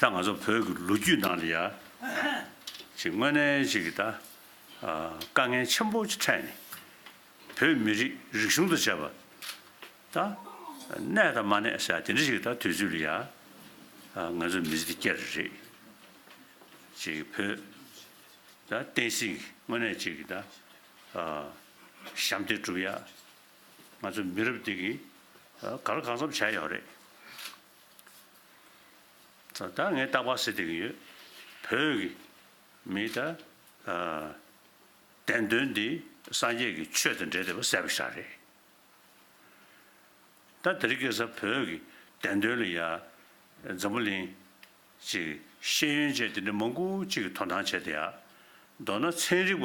ད་ང་ཚོ་བོད་ཀྱི་ལོ་རྒྱུས་ནང་ལ་ཡང་ཅིག་དངོས་གནས་ཅིག་གིས་ད་དཀའ་ངལ་ཆེན་པོ་ཅིག་འཕྲད་ནས་བོད་མི་རིགས་རིག་གཞུང་དང་བཅས་པ་ད་གནས་དང་མ་གནས་ས་དེ་འདྲ་ཞིག་ད་དུས་ཚོད་ལ་ཡང་ང་ཚོ་མི་ཚེ་འདི་བསྐྱལ་རེ་རེད། ཅིག་བོད་ད་བསྟན་སྲིད་ཀྱི་དངོས་གནས་ཅིག་གིས་ད་ཞབས་འདེགས་བསྒྲུབ་ཡ། ང་ཚོ་མི་རབས་འདི་གིས་ག་ལ་གང་འཚམ་བྱ་ཡག་རེད། ད་ངས་བརྟག་པ་བྱེད་བསྡད་ཀྱི་ཡོད། བོད་ཀྱི་མིས་ད་བདེན་དོན་འདི་སངས་རྒྱས་ཀྱི་ཆོས་དང་འབྲེལ་བསྡད་པ་གསལ་པོ་ཤ་རེད། ད་དེ་རིགས་སྐད་ས་བོད་ཀྱི་བདེན་དོན་ལ་ཡ། འཛམ་བུ་གླིང་གྱི་ཤེས་ཡོན་ཅན་དེ་འདྲ་མང་པོ་གཅིག་གིས་དོ་སྣང་བྱས་དེ་ཡ། མདོར་ན་ཚན་རིག་པ་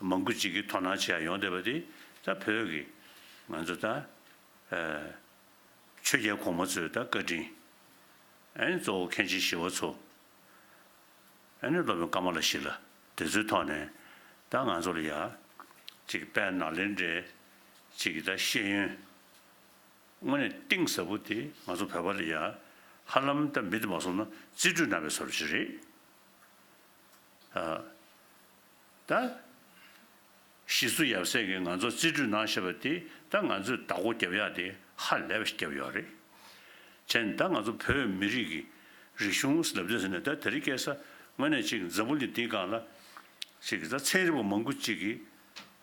མང་པོ་གཅིག་གིས་དོ་སྣང་བྱས་ཡ་ཡོང་བསྡད་པ་དེ་ད་བོད་ཀྱི་ང་ཚོ་ད། ཆོས་རྒྱལ་གོང་མ་གཙོས་ད་བཀའ་དྲིན། ཨ་ནི་གཙོ་བོ་མཁན་ཆེན་ཞི་བ་འཚོ། ཨ་ནི་སློབ་དཔོན་ཀ་མ་ལ་ཤཱི་ལ་དེ་ཚོའི་ཐོག་ནས་ད་ང་ཚོ་ལ་ཡ། ཅིག་དཔལ་ནཱ་ལེནྡྲའི། ཅིག་ད་ཤེས་ཡོན། དངོས་གནས་གཏིང་ཟབ་པོ་དེ་ང་ཚོ་བོད་པ་ལ་ཡ། ཧ་ལམ་ད་མི་དེ་མ་སོང་ན་རྩིས་འཕྲུལ་ནང་པའི་ཟོར་བཞི་རེད། ད། གཞིས་སུ་ཡབ་སྲས་ཀྱིས་ང་ཚོར་རྩིས་སྤྲོད་གནང་ཞེས་པ་དེ་ད་ང་ཚོས་བདག་པོ་རྒྱབ་ཡག་དེ་ཧ་ལས་པ་ཞིག་རྒྱབ་ཡོད་རེད། བྱས་ནས་ད་ང་ཚོ་བོད་མི་རིགས་ཀྱི་རིག་གཞུང་ཟླ་བདུན་ཟེར་ནས་ད་དེ་རིགས་སྐད་ས་ངོས་ནས་ཅིག་འཛམ་བུ་ལི་འདིའི་སྒང་ལ་ཅིག་གི་ད་ཚན་རིག་པ་མང་པོ་ཅིག་གིས་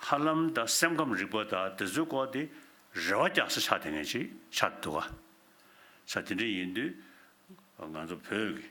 ཧ་ལམ་ད་སེམས་ཁམས་རིག་པ་ད་དེ་ཚོའི་སྐོར་དེ་རེ་བ་རྒྱག་ས་ཆགས་དེ་ངས་ཅིག་ཆགས་འདུག་ག། ཆ་དེ་འདྲ་ཡིན་དུས་ང་ཚོ་བོད་ཀྱི།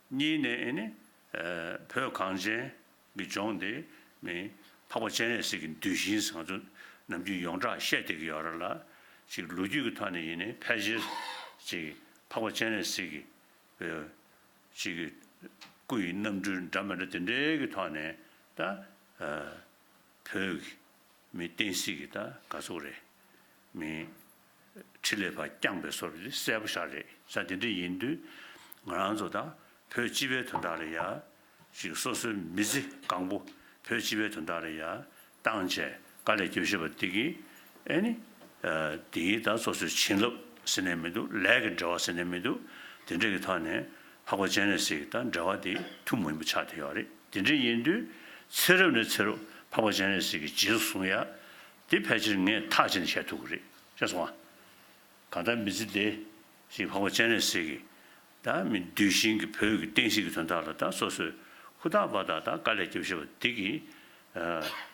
གཉིས་ནས་ཨེ་ནི། བོད་གངས་ཅན་གྱི་ལྗོངས་འདི་ནི། འཕགས་པ་སྤྱན་རས་གཟིགས་ཀྱི་འདུལ་ཞིང་བཟང་ཚུལ། ནམ་རྒྱུན་ཡོངས་གྲགས་བཤད་བསྡད་ཀྱི་ཡོད་ར་ལ། ཅིག་ལོ་རྒྱུས་ཀྱི་ཐོག་ནས་ཡིན་ནི་ཕལ་ཆེར། ཅིག་འཕགས་པ་སྤྱན་རས་གཟིགས་ཀྱི། ཅིག་གི། སྐུ་ཡི་རྣམ་འཕྲུལ་འདྲ་མི་འདྲ་དེ་འདྲའི་གི་ཐོག་ནས་ད། བོད། མི་བསྟན་སྲིད་ཀྱི་ད་དགའ་ཚོར་རེ། མི། ཁྲི་ལས་པ་རྐྱང་པའི་སོར་འདི་གསལ་པོ་ཤར་རེད་ས་དེ་འདྲ་ཡིན་དུས་ང་རང་ཚོ་དང་བོད་སྤྱི་པའི་དོན་དག་རེད་ཡ་ཞིག་སོ་སོའི་མི་ཚེ་གང་པོ་བོད་སྤྱི་པའི་དོན་དག་རེད་ཡ་བཏང་བྱས་དཀའ་ལས་སྐྱོ་ཤོས་པ་འདི་གི་ཨེ་ནི་འདི་གི་ད་སོ་སོའི་བྱིན་རླབས་ཟེར་ནས་མི་འདུག་ལས་ཀྱི་འབྲེལ་བ་ཟེར་ནས་མི་འདུག་དེ་འདྲ་གི་ཐོག་ནས་འཕགས་པ་སྤྱན་རས་གཟིགས་དང་འབྲེལ་བ་དེ་ཐུགས་མི་འབུ་ཆགས་དེ་ཡོད་རེད་དེ་འདྲ་ཡིན་དུས་ཚེ་རབས་ནས་ཚེ་རུབ་འཕགས་པ་སྤྱན་རས་གཟིགས་ཀྱི་རྗེས་སུ་བཟུང་ཡ་དེ་ཕལ་ཆེར་ངས་ཐག་བཅད་ནས་བཤད་ཐུབ་གི་རེད་ཅེས་གསུངས། གང་ལྟར་མི་ཚེ་འདི་ཞིག་འཕགས་པ་སྤྱན་རས་གཟིགས་ཀྱིས་དང་མི་འདུལ་ཞིང་གི་བོད་ཀྱི་བསྟན་སྲིད་ཀྱི་དོན་དག་ལ་དང་སོ་སོས་ཧུར་ཐག་པ་དག་དང་དཀའ་ལས་སྐྱོབས་ཤེས་པ་འདི་གི་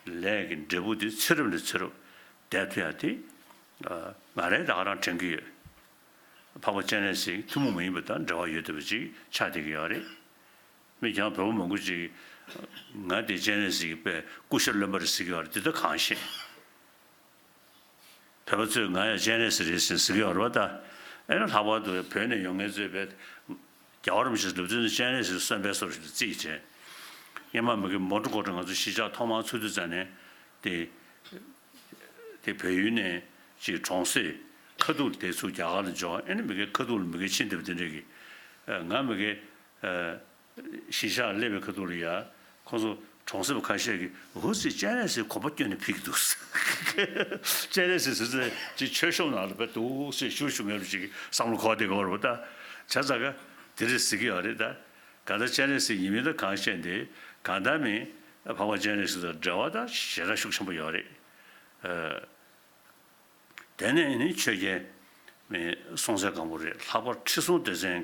ལས་ཀྱི་འབྲས་བུ་འདི་ཚེ་རབས་ནས་ཚེ་རབས་འདས་ཐུ་ཡང་དེ་ང་རེ་དག་རང་དྲན་གྱི་ཡོད། འཕགས་པ་སྤྱན་རས་གཟིགས་ཐུན་མོང་མ་ཡིན་པ་དང་འབྲེལ་བ་ཡོད་དུས་པ་ཅིག་ཆགས་བསྡད་ཀྱི་ཡོད་རེད། མི་རྐྱང་བོད་པོ་མང་པོ་ཅིག་ང་དེ་སྤྱན་རས་གཟིགས་ཀྱི་དཔེ་སྐུ་ཞབས་བློན་པ་རེད་ཟེར་གྱི་བར་འདི་ལྟ་གང་ཤེས། བོད་པ་ཚོས་ང་ཡང་སྤྱན་རས་གཟིགས་རེད་ཟེར་ཟེར་གྱི་བར་བ་ད་ཨེ་ན་ལྷག་པར་དུ་བོད་ནས་ཡོང་མཁན་ཚོའི་བེད་རྒྱ་བར་མི་ཞིག་ལུས་རྩོད་ནས་སྤྱན་རས་གཟིགས་གསོན་པའི་སོར་ཞིག་ཏུ་རྩིས་ཀྱི་བྱས། སྙེ་མ་མི་གི་མོ་འགྲོ་འགོ་འགྲོ་ང་ཚོ་གཞིས་ཆགས་ཐོག་མར་ཚུགས་དུས་ཙང་ནས་དེ་དེ་བོད་ཡུལ་ནས་ཅིག་གྲོང་གསེབ་ཁ་ཐུག་ལ་དེ་ཚུགས་རྒྱ་གར་ལ་འབྱོར་ཨེ་ན་མི་གའི་ཁ་ཐུག་ལ་མི་གའི་ཕྱི་འདེབས་འདི་འདྲ་གི་ང་མི་གའི། གཞིས་ཆགས་ཀླད་པའི་ཁ་ཐུག་ལ་ཡ། ཁོང་ཚོ་གྲོང་གསེབ་ཁ་ཤས་ཀྱི་ཧུར་བསྲི་སྤྱན་རས་གཟིགས་གོ་པ་བསྐྱོན་ནས་ཕུལ་གྱི་འདུག། སྤྱན་རས་གཟིགས་ཟེར་ཚད་ཅིག་ཆོས་ཤོམ་ནང་ལ་བེད་དུ་སེ་ཤུར་ཤུར་མེད་པ་ཅིག་བསམ་བློ་ཁོག་སྟེ་གོ་རུ་བལྟ། བྱ་ཙག་ག། དེ་རེད་ཟེར་གྱི་ཡོད་རེད་ད། གང་ལྟར་སྤྱན་རས་གཟིགས་ཡིན་མིན་དང་གང་བཤད་འདི་གང་བདག་མིན། འཕགས་པ་སྤྱན་རས་གཟིགས་དང་འབྲེལ་བ་དང་ཞེ་དྲག་ཤུགས་ཆེན་པོ་ཡོད་རེད། དེ་ནས་ནི་ཆོས་རྒྱལ། སྲོང་བཙན་སྒམ་པོ་རེད་ལྷག་པར་ཁྲི་སྲོང་ལྡེ་བཙན།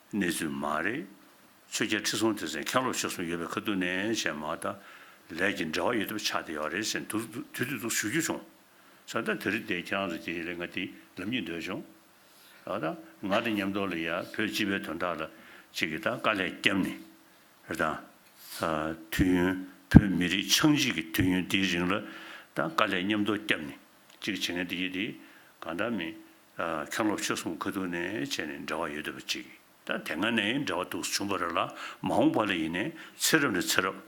གནས་ཚུལ་མ་རེད། ཆོས་རྒྱལ་ཁྲི་སྲོང་ལྡེ་བཙན་མཁན་སློབ་ཆོས་གསུམ་ཡོད་པའི་ཁ་ཐུག་ནས་བྱས་མ་ད་ལས་ཀྱི་འབྲེལ་བ་ཡོད་ཐུབ་ཆགས་བསྡད་ཡོད་རེད་ཟེར་འདུག་དུས་དུས་སུ་ཞུ་རྒྱུ་བྱུང། ཚོད་ལྟ་དེ་རིགས་བསྡད་ཁྱེད་རང་ཚོ་དེ་ལས་ང་དེ་ལབ་ཉིད་འདོད་བྱུང། ད་ང་དང་མཉམ་འདོར་ལ་ཡ་བོད་སྤྱི་པའི་དོན་དག་ལ་ཅིག་གིས་ད་དཀའ་ལས་བརྒྱབ་ནས་རེད་ད། དུས་ཡུན་བོད་མི་རིགས་ཆགས་འཇིག་གི་དུས་ཡུན་འདིའི་རིང་ལ་ད་དཀའ་ལས་མཉམ་འདོར་བརྒྱབ་ནས་ཅིག་བྱེད་མཁན་དེ་ཡིད་དེ་གང་འདྲ་མིན་མཁན་སློབ་ཆོས་གསུམ་ཁ་ཐུག་ནས་བྱས་ནས་འབྲེལ་བ་ཡོད་འདོད་པ་ཅིག་དང་དེ་སྔ་ནས་འབྲེལ་བ་འདུག་བཟོ་བྱུང་བ་རེད་ལ་མ་འོངས་པ་ལ་ཡིན་ནའི་ཚེ་རབས་ནས་ཚེ་རབས།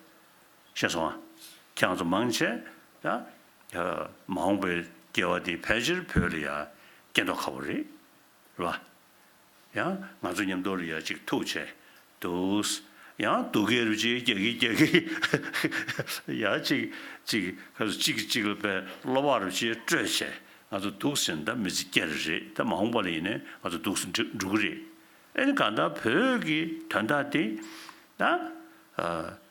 ཤེས་སོང་ཨ། ཁྱེད་རང་ཚོ་མང་ཆེ་ད། མ་འོངས་པའི་སྐྱེ་བ་འདི་ཕལ་ཆེར་བོད་ལ་ཡང་སྐྱེ་མདོག་ཁ་བོ་རེད། ལ། ཡང་ང་ཚོ་མཉམ་དུ་རེ་ཡ་ཅིག་ཐུག་བྱས་འདུག། ཡང་སྡུག་གི་རུ་ཅིག་རྒྱག་གི་རྒྱག་གི། ཡ་ཅིག་ཅིག་ག་ཚོད་གཅིག་གི་གཅིག་ལ་བས་གློ་བ་རུ་ཅིག་སྤྲོད་བྱས་ང་ཚོ་སྡུག་ཟིན་ད་མི་ཚེ་བསྐྱལ་རེ་རེད་ད་མ་འོངས་པ་ལ་ཡིན་ནས་ང་ཚོ་སྡུག་ཟིན་འགྲོ་གི་རེད། ཨེ་ནི་གང་ལྟར་བོད་ཀྱི་དོན་དག་དེ་ད་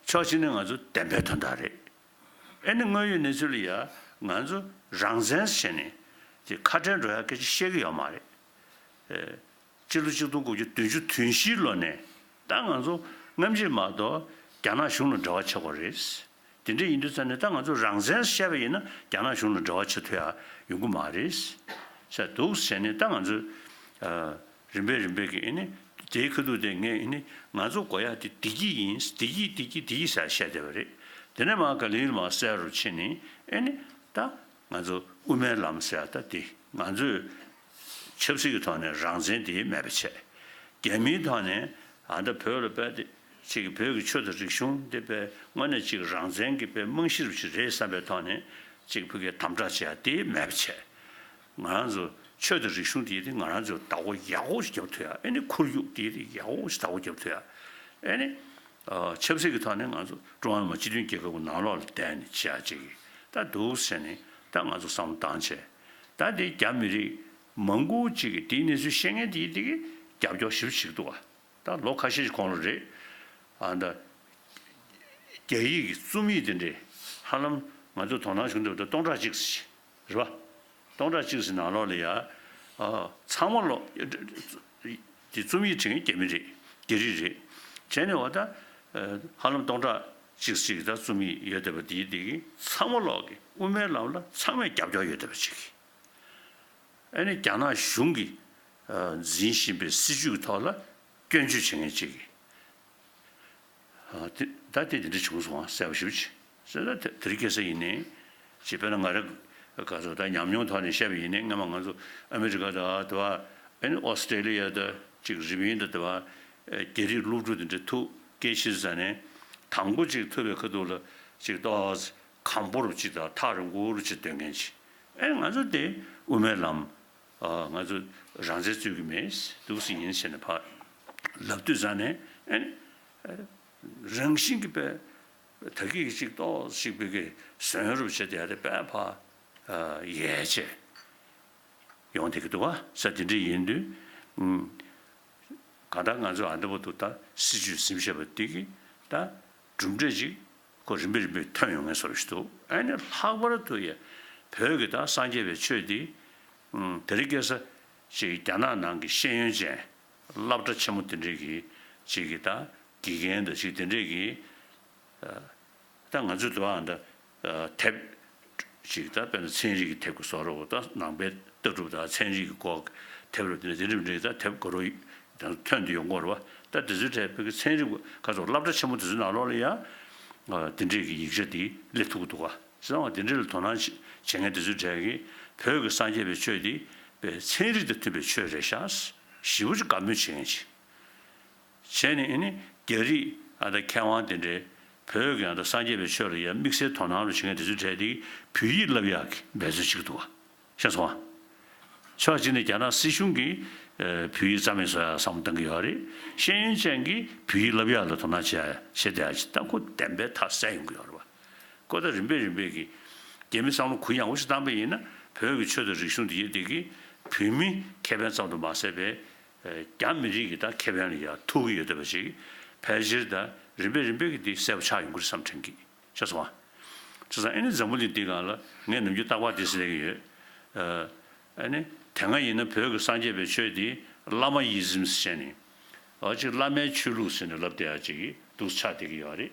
ཕྱོགས་གཅིག་ནས་ང་ཚོ་བདེན་པའི་དོན་དག་རེད། ཨེ་ནི་དངོས་ཡོད་གནས་ཚུལ་ལ་ཡང་ང་ཚོ་རང་བཙན་ཟེར་ནས་ཁ་བྲལ་འགྲོ་ཡག་སྐད་ཆ་བཤད་གི་ཡོད་མ་རེད། སྤྱི་ལོ་ཆིག་སྟོང་དགུ་བརྒྱ་བདུན་ཅུ་དུས་བཞིའི་ལོ་ནས་ད་ང་ཚོ་རྔམ་བརྗིད་མ་གཏོགས་རྒྱ་ནག་གཞུང་ལ་འབྲེལ་བ་ཆགས་པ་རེད། དེ་འདྲ་ཡིན་དུས་ཙམ་ནས་ད་ང་ཚོ་རང་བཙན་བཤད་པ་ཡིན་ན་རྒྱ་ནག་གཞུང་ལ་འབྲེལ་བ་ཆེ་མཐོ་ཡང་ཡོང་གི་མ་རེད་ཟེར་འདུག་བྱས་ནས་ད་ང་ཚོས་རིམ་པས་རིམ་པས་ཀྱིས་དེའི་ཁ་ཐུག་དེ་ངས་ང་ཚོ་མགོ་ཡག་དེ་བདེ་སྐྱིད་ཡིན་བདེ་སྐྱིད་བདེ་སྐྱིད་བདེ་སྐྱིད་ཟེར་བཤད་བསྡད་པ་རེད། དེ་ནས་མ་ག་ལེར་མ་གསལ་རུ་ཕྱིན་ནས་ད། ང་ཚོ་དབུ་མའི་ལམ་ཟེར་ད་དེ་ང་ཚོས་ཆབ་སྲིད་ཀྱི་ཐོག་ནས་རང་བཙན་དེ་མེད་པ་བྱས། རྒྱ་མིའི་ཐོག་ནས་ད་ལྟ་བོད་ལ་དཔལ་དེ་གཅིག་གི་བོད་ཀྱི་ཆོས་དང་རིག་གཞུང་དེ་དཔལ་དངོས་གནས་གཅིག་རང་བཙན་གྱི་དཔལ་རྨང་གཞིར་བཞི་རེད་བསམ་པའི་ཐོག་ནས་གཅིག་བོད་སྐད་དམ་དྲག་བྱས་དེ་མེད་པ་བྱས། ང་རང་ཚོ་ཆོས་དང་རིག་གཞུང་དེ་དེ་ང་རང་ཚོས་བདག་པོ་ཡག་པོ་ཞིག་རྒྱབ་ཐུབ་ཡ་ཨེ་ནི་ཁོར་ཡུག་དེ་དེ་ཡག་པོ་ཞིག་བདག་པོ་རྒྱབ་ཐུབ་ཡ་ཨེ་ནི། ཆབ་སྲིད་ཀྱི་ཐོག་ནས་ང་ཚོ་ཀྲུང་ཧྭ་མི་དམངས་སྤྱི་མཐུན་རྒྱལ་ཁབ་ཀྱི་ནང་ལོགས་ལ་བསྡད་ནས་བྱས་ཡག་བྱེད་ཀྱི་ད་འདུག་ཟེར་ནས་ད་ང་ཚོ་བསམ་བློ་བཏང་བྱས། ད་དེ་རྒྱ་མི་རིགས་མང་པོ་གཅིག་གིས་དེའི་གནས་ཚུལ་ཤེས་མཁན་དེ་དེ་གིས་རྒྱབ་སྐྱོར་ཞིབ་བྱེད་ཀྱི་འདུག་བ་ད་ལོ་ཁ་ཤས་ཤིག་གོང་ལོ་རེད། ཨ་ད། རྒྱ་ཡིག་གི་རྩོམ་ཡིག་དེ་འདྲས་ཧ་ལམ་ང་ཚོས་དོ་སྣང་བྱུང་ཐུབ་ད་སྟོང་ཕྲག་གཅིག་ཟེར་གྱི་རེད་བ། སྟོང་ཕྲག་གཅིག་ཟེར་ནང་ལོགས་ལ་ཡ། ཚང་མ་ལོགས། འདི་རྩོམ་ཡིག་བྲིས་མཁན་རྒྱ་མི་རེད་རྒྱ་རིགས་རེད། བྱས་ནས་བ་ད། ཧ་ལམ་སྟོང་ཕྲག་གཅིག་གཅིག་གི་ད་རྩོམ་ཡིག་ཡོད་སྡད་པ་འདིའི་སྟེང་གི་ཚང་མ་ཀློག་གི་དབུ་མའི་ལམ་ལ་ཚང་མས་རྒྱབ་སྐྱོར་ཡོད་སྡད་པ་བྱེད་གི། ཨ་ནི་རྒྱ་ནག་གཞུང་གི་འཛིན་བཞིན་པའི་སྲིད་བྱུས་ཀྱི་ཐོག་ལ་སྐྱོན་བརྗོད་བྱེད་མཁན་གཅིག་གི། ད་དེ་འདི་འདྲ་བྱུང་སོང་ང་གསལ་པོ་ཞུ་བྱེད། སེམས་ལ་དེ་རིགས་སྐྱེ་ས་ཡིན་ནི། ཅེས་པས་ན་ང་རེ་འགའ་ཚོ་ད་ཉམས་མྱོང་ཐོག་ནས་བཤད་པ་ཡིན་ནི་སྔན་མ་ང་ཚོ་ཨ་མི་རི་ཀ་དང་དེ་བ Australia དང་གཅིག་རིམ་ཡིན་དང་དེ་བ་རྒྱ་རིགས་སློབ་ཕྲུག་དེ་འདྲ་ཐུགས་སྐྱེ་ཤི་ས་ནས་དང་པོ་གཅིག་ཐུབ་པའི་ཁ་ཐུག་ལ་གཅིག་ཏོག་གམ་པོ་རུ་གཅིག་དང་ཐག་རིང་པོ་རུ་གཅིག་སྡོད་མཁན་གཅིག་ཨེ་ང་ཚོ་དེ་དབུ་མའི་ལམ་ང་ཚོ་རང་བཙན་རྩོད་ཀྱི་མེད་འདུག་སེ་ཡིན་ཟེར་ནས་ཕར་ལབ་དུས་ས་ནས་ཨེ་རང་བཞིན་གྱི་པས་དགེ་གིས་གཅིག་ཏོག་གཅིག་པུས་གི་ཟོན་རུབ་བྱེད་དེ་རེ་པས་ཕ་ཡས་བྱས། ཡོང་དེ་གི་དུ་བ་ས་དེ་འདྲི་ཡིན་དུས། ག་ལྟར་ང་ཚོས་ཨ་འདི་པོ་དུ་ལྟར་སྲིད་ཇུས་ཟིམ་ཤེས་པ་དེ་གི་ད་གྲུབ་འབྲས་ཅིག་ཁོ་རིམ་པས་རིམ་པས་ཐོན་ཡོང་ངེས་བཟོ་བཞིན་འདུག་ཨེ་ནས་ལྷག་པར་དུ་ཡ་བོད་གི་ད་སངས་རྒྱས་པའི་ཆོས་འདི། དེ་རི་སྐད་ས་ཅིག་རྒྱ་ནག་ནང་གི་ཤེས་ཡོན་ཅན་བསླབ་གྲ་ཆེན་མོ་དེ་འདྲི་གི་ཅིག་གི་ད་དགེ་རྒན་དང་ཞིག་དེ་འདྲས་ཀྱིས། ད་ང་ཚོས་འདུག་ཨང། དེབ། ཅིག་དང་དཔེར་ན་ཚན་རིག་གི་དེབ་ཀྱི་སོགས་རོ་བོ་དང་ནང་པའི་ལྟ་གྲུབ་དང་ཚན་རིག་གི་སྐོར་གྱི་དེབ་རོ་བདུན་དེ་འདྲས་མི་འདྲ་གི་ད་དེབ་ག་རུ་ཡང་ཐོན་དུ་ཡོང་གོ་རེ་བ། ད་དེ་ཚོའི་གྲས་བོད་ཀྱི་ཚན་རིག་པ་ག་ཚོགས་བསླབ་གྲྭ་ཆེན་མོ་དེ་ཚོའི་ནང་ལོགས་ལ་ཡང། དེ་འདྲས་ཀྱི་ཡིག་ཆ་དེ་སླེབས་ཐུབ་ཀྱི་འདུག་ག་ཟེར་ན་འང་དེ་འདྲས་ལ་དོ་སྣང་བྱེད་མཁན་དེ་ཚོའི་གྲས་ཀྱིས་བོད་ཀྱི་སངས་རྒྱས་པའི་ཆོས་དེ། པའི་ཚན་རིག་དང་མཐུན་པའི་ཆོས་རེད་ཤག། ཞིབ་པོ་ཅིག་བཀའ་མོལ་བྱེད་མཁན་ཅིག། བྱས་ནས་ནི་རྒྱ་རིགས་དང་མཁས་དབང་དེ་འདྲས་བོད་ཀྱི་སངས་རྒྱས་པའི་ཆོས་ལ་ཡ་དམིགས་བསལ་དོ་སྣང་རུ་བྱེད་མཁན་དེ་ཚོའི་གྲས་དེ་བོད་ཡིག་བསླབ་ཡག་གི་འབད་བརྩོན་བྱེད་ཀྱི་འདུག་ཤ་ཚ་བ། ཕྱོགས་གཅིག་ནས་རྒྱ་ནག་སྲིད་གཞུང་གིས་བོད་ཡིག་རྩ་མེད་བཟོ་ཡག་བསམ་བློ་གཏང་གི་ཡོད་རེད་ཤེས་ཡོན་ཅན་གྱིས་བོད་ཡིག་བསླབ་ཡག་ལ་དོ་སྣང་བྱེད་ཡག་བྱེད་བསྡད་ཡག་ཅེས་ལྟ་སྐོར་བདེན་པའི་ཐག་གསལ་ཡོང་གི་ཡོད་རེད་བ། ཀོ་ད་རིམ་པས་རིམ་པས་ཀྱིས་རྒྱ་མི་བསམ་བློ་གུ་ཡངས་པོ་ཞིག་བཏང་པས་ཡིན་ན་བོད་ཀྱི་ཆོས་དང་རིག་གཞུང་དེ་ཡེ་དེ་གིས་བོད་མི་ཁེ་ཕན་ཙམ་དུ་མ་ཟད་པའི་རྒྱ་མི་རིགས་ཀྱི་དང་ཁེ་ཕན་ལ་ཡང་ཐུག་གི་ཡོད་འདོད་པ་ཞིག་ཕལ་ཆེར་དང་རིམ་པས་རིམ་པས་ཀྱི་དེ་གསལ་པོ་ཆགས་ཡོང་གི་རེད་བསམ་དྲན་གི་ཤ་ཚ་བ། ཆ་ཚང་ཨེ་ནི་འཛམ་བུ་གླིང་འདི་གང་ལ་ངས་ནམ་རྒྱུན་རྟག་པར་དེ་གསལ་གི་ཡོད། ཨ་ནི་དེ་སྔ་ཡིན་ན་བོད་ཀྱི་སངས་རྒྱས་པའི་ཆོས་དེ་བླ་མ་ཡིད་བཟིམས་སེ་བྱས་ནས་ཨ་ཅིག་བླ་མའི་ཆོས་ལུགས་ཟེར་ནས་ལབ་བསྡད་ཨ་ཅིག་གི་འདུག་ཆགས་བསྡད་གི་ཡོད་རེད།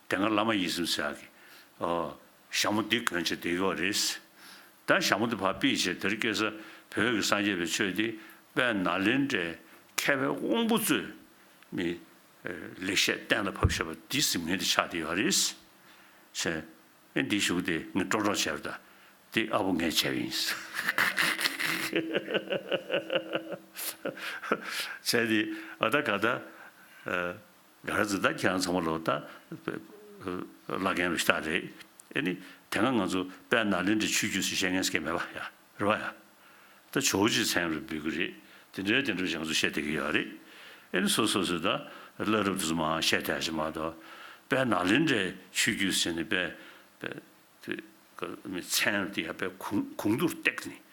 དེ་སྔར་བླ་མ་ཡིད་གསུམ་བསལ་གི། ཞྭ་མོ་འདི་གོན་བྱེད་དེ་གཡོག་རེད། ད་ཞྭ་མོ་འདི་ཕར་སྤིད་བྱེད་དེར་སྐྱེལ་ས་བོད་ཀྱི་སངས་རྒྱས་པའི་ཆོས་འདི་དཔལ་ནཱ་ལེནྡྲའི་མཁས་པའི་དབང་པོ་གཙོས་ནི། ལེགས་བཤད་གཏན་ལ་ཕབ་བྱེད་པ་འདི་གཟིམ་ངན་དེ་ཆགས་དེ་ཡོད་རེད། ཆེ། ཨེ་འདི་བཞུགས་དེ་ངས་སྤྲོ་སྤྲོ་བྱས་པ་ད་འདི་ཨ་བུ་ངས་བྱས་པ་ཡིན། བྱས་དེ་ཨ་ད་ག་ད། ག་རེ་ཟེར་ད་ཁྱེད་རང་ཚང་མ་ལོ་ད་བླ་རྒན་རེད་ཤ་རེད་ཨེ་ནི་དེ་སྔ་ང་ཚོ་དཔལ་ནཱ་ལེནྡྲའི་ཆོས་བརྒྱུད་སུ་ཤེས་མཁན་སྐད་མེད་པ་ཡ་རེད་བ་ཡ། ད་ཇོ་བོ་རྗེ་མཚན་རེད་འབོད་གི་རེད་དེ་འདྲའི་དེ་འདྲ་ཞིག་ང་ཚོ་བཤད་བསྡད་གི་ཡ་རེད་ཨེ་ནི་སོ་སོ་སོས་ད་བླ་རབས་དེ་ཚོ་མང་བཤད་བསྡད་ཤི་མ་གཏོགས་དཔལ་ནཱ་ལེནྡྲའི་ཆོས་བརྒྱུད་ཟེར་ནི་དཔལ་དེ་མི་ཚད་ནོར་དེ་ཡར་པའི་གུང་དུར་བཏེགས་ནས།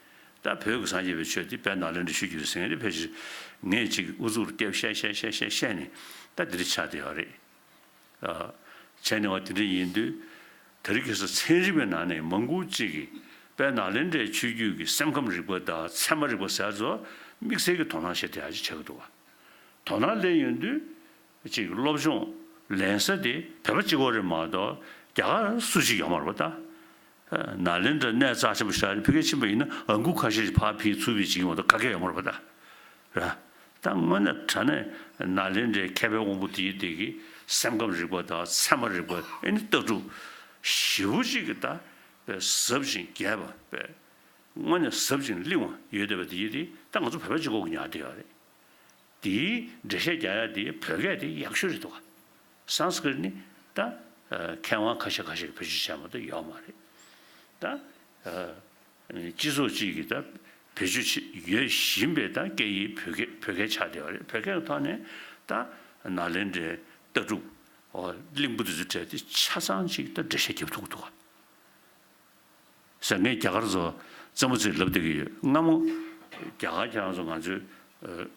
ད་བོད་ཀྱི་སངས་རྒྱས་པའི་ཆོས་འདི་བལ་ནག་ལེ་འདྲེ་ཤུལ་གྱི་ཟིན་རེད་ཕལ་ཆེར་ངས་ཅིག་ཨུ་ཚུགས་རུ་ལྟེབ་བཤད་བཤད་བཤད་བཤད་བཤད་ནས་ད་འདི་རིགས་ཆགས་དེ་ཡག་རེད། བྱས་ནས་བ་དེ་འདྲ་ཡིན་དུས་ད་རིགས་ཁྱེད་ཚོ་ཚན་རིག་པའི་ནང་ནས་མང་པོ་ཅིག་གིས་བལ་ནག་ལེ་འདྲེ་ཆོས་བརྒྱུད་ཀྱི་སེམས་ཁམས་རིག་པ་དང་ཚད་མ་རིག་པ་ཟེར་ཚོ་དམིགས་བསལ་གྱི་དོ་སྣང་བྱེད་དེ་ཡག་ཅིག་བྱེད་གི་འདུག་བ། དོ་སྣང་ལེན་ཡོང་དུས། གཅིག་སློབ་སྦྱོང་ལེན་ས་དེ་བོད་པ་གཅིག་གོ་རེ་མ་གཏོགས་རྒྱ་གར་སུ་གཅིག་ཡོང་མར་བ་ད། ན་ལེན་དྲ་གནས་རྩ་ཆེན་པོ་ཤར་ཨ་ཕི་ཀའི་ཕྱིན་པ་ཡིན་ན་ཨ་འགུག་ཁ་ཤས་ཤིག་ཕ་ཕིའི་ཚུར་བུད་ཅིག་ཡོང་བ་ད་ག་གེ་ཡོང་མར་བ་ད། ར་ད་དངོས་ན་དྲ་གནས་ན་ལེན་དྲའི་མཁས་པའི་དབང་པོ་དེ་ཡི་དེ་གི་སེམས་ཁམས་རིག་པ་ད་ཚད་མ་རིག་པ་ཨེ་ནི་སྟག་ཕྲུག་བཞི་བོ་གཅིག་གི་ད་ཟབ་ཅིང་རྒྱས་པ་དངོས་ནས་ཟབ་ཅིང་བརླིང་བ་ཡོད་བསྡད་པ་དེ་ཡི་དེ་ད་ང་ཚོ་བོད་པ་གཅིག་གོ་གི་ཉག་དེ་ཡོད་རེད། དེའི་འགྲེལ་བཤད་རྒྱ་ཡག་འདི་བོད་སྐད་དེ་ཡག་ཤོས་རེད་འདུག་ག Sanskrit ནི་ད་མཁས་དབང་ཁ་ཤས་ཁ་ཤས་ཀྱི་བེད་སྤྱོད་བྱས་མ་གཏོགས་ཡོད་མ་རེད་ད། སྤྱི་ཚོགས་གཅིག་གིས་ད་བེད་སྤྱོད་བྱེད་ཡོད་བཞིན་པའི་ད་སྐད་ཡིག་བོད་སྐད་བོད་སྐད་ཆགས་བསྡད་པ་རེད་བོད་སྐད་ཀྱི་ཐོག་ནས་ད་ནཱ་ལེནྡྲའི་ལྟ་གྲུབ་གླིང་བུ་དེ་ཚོ་བྲལ་ཏེ་ཆ་ཚང་གཅིག་ད་འགྲེལ་བཤད་རྒྱབ་ཐུག་གི་འདུག་ག། ཟེར། ངས་རྒྱ་གར་ཚོ་བཙན་པོ་ཚོས་ལབ་བསྡད་ཀྱི་ཡོད་སྔ་མོ། རྒྱ་གར་ཁྱེད་རང་ཚོ་ང་ཚོའི་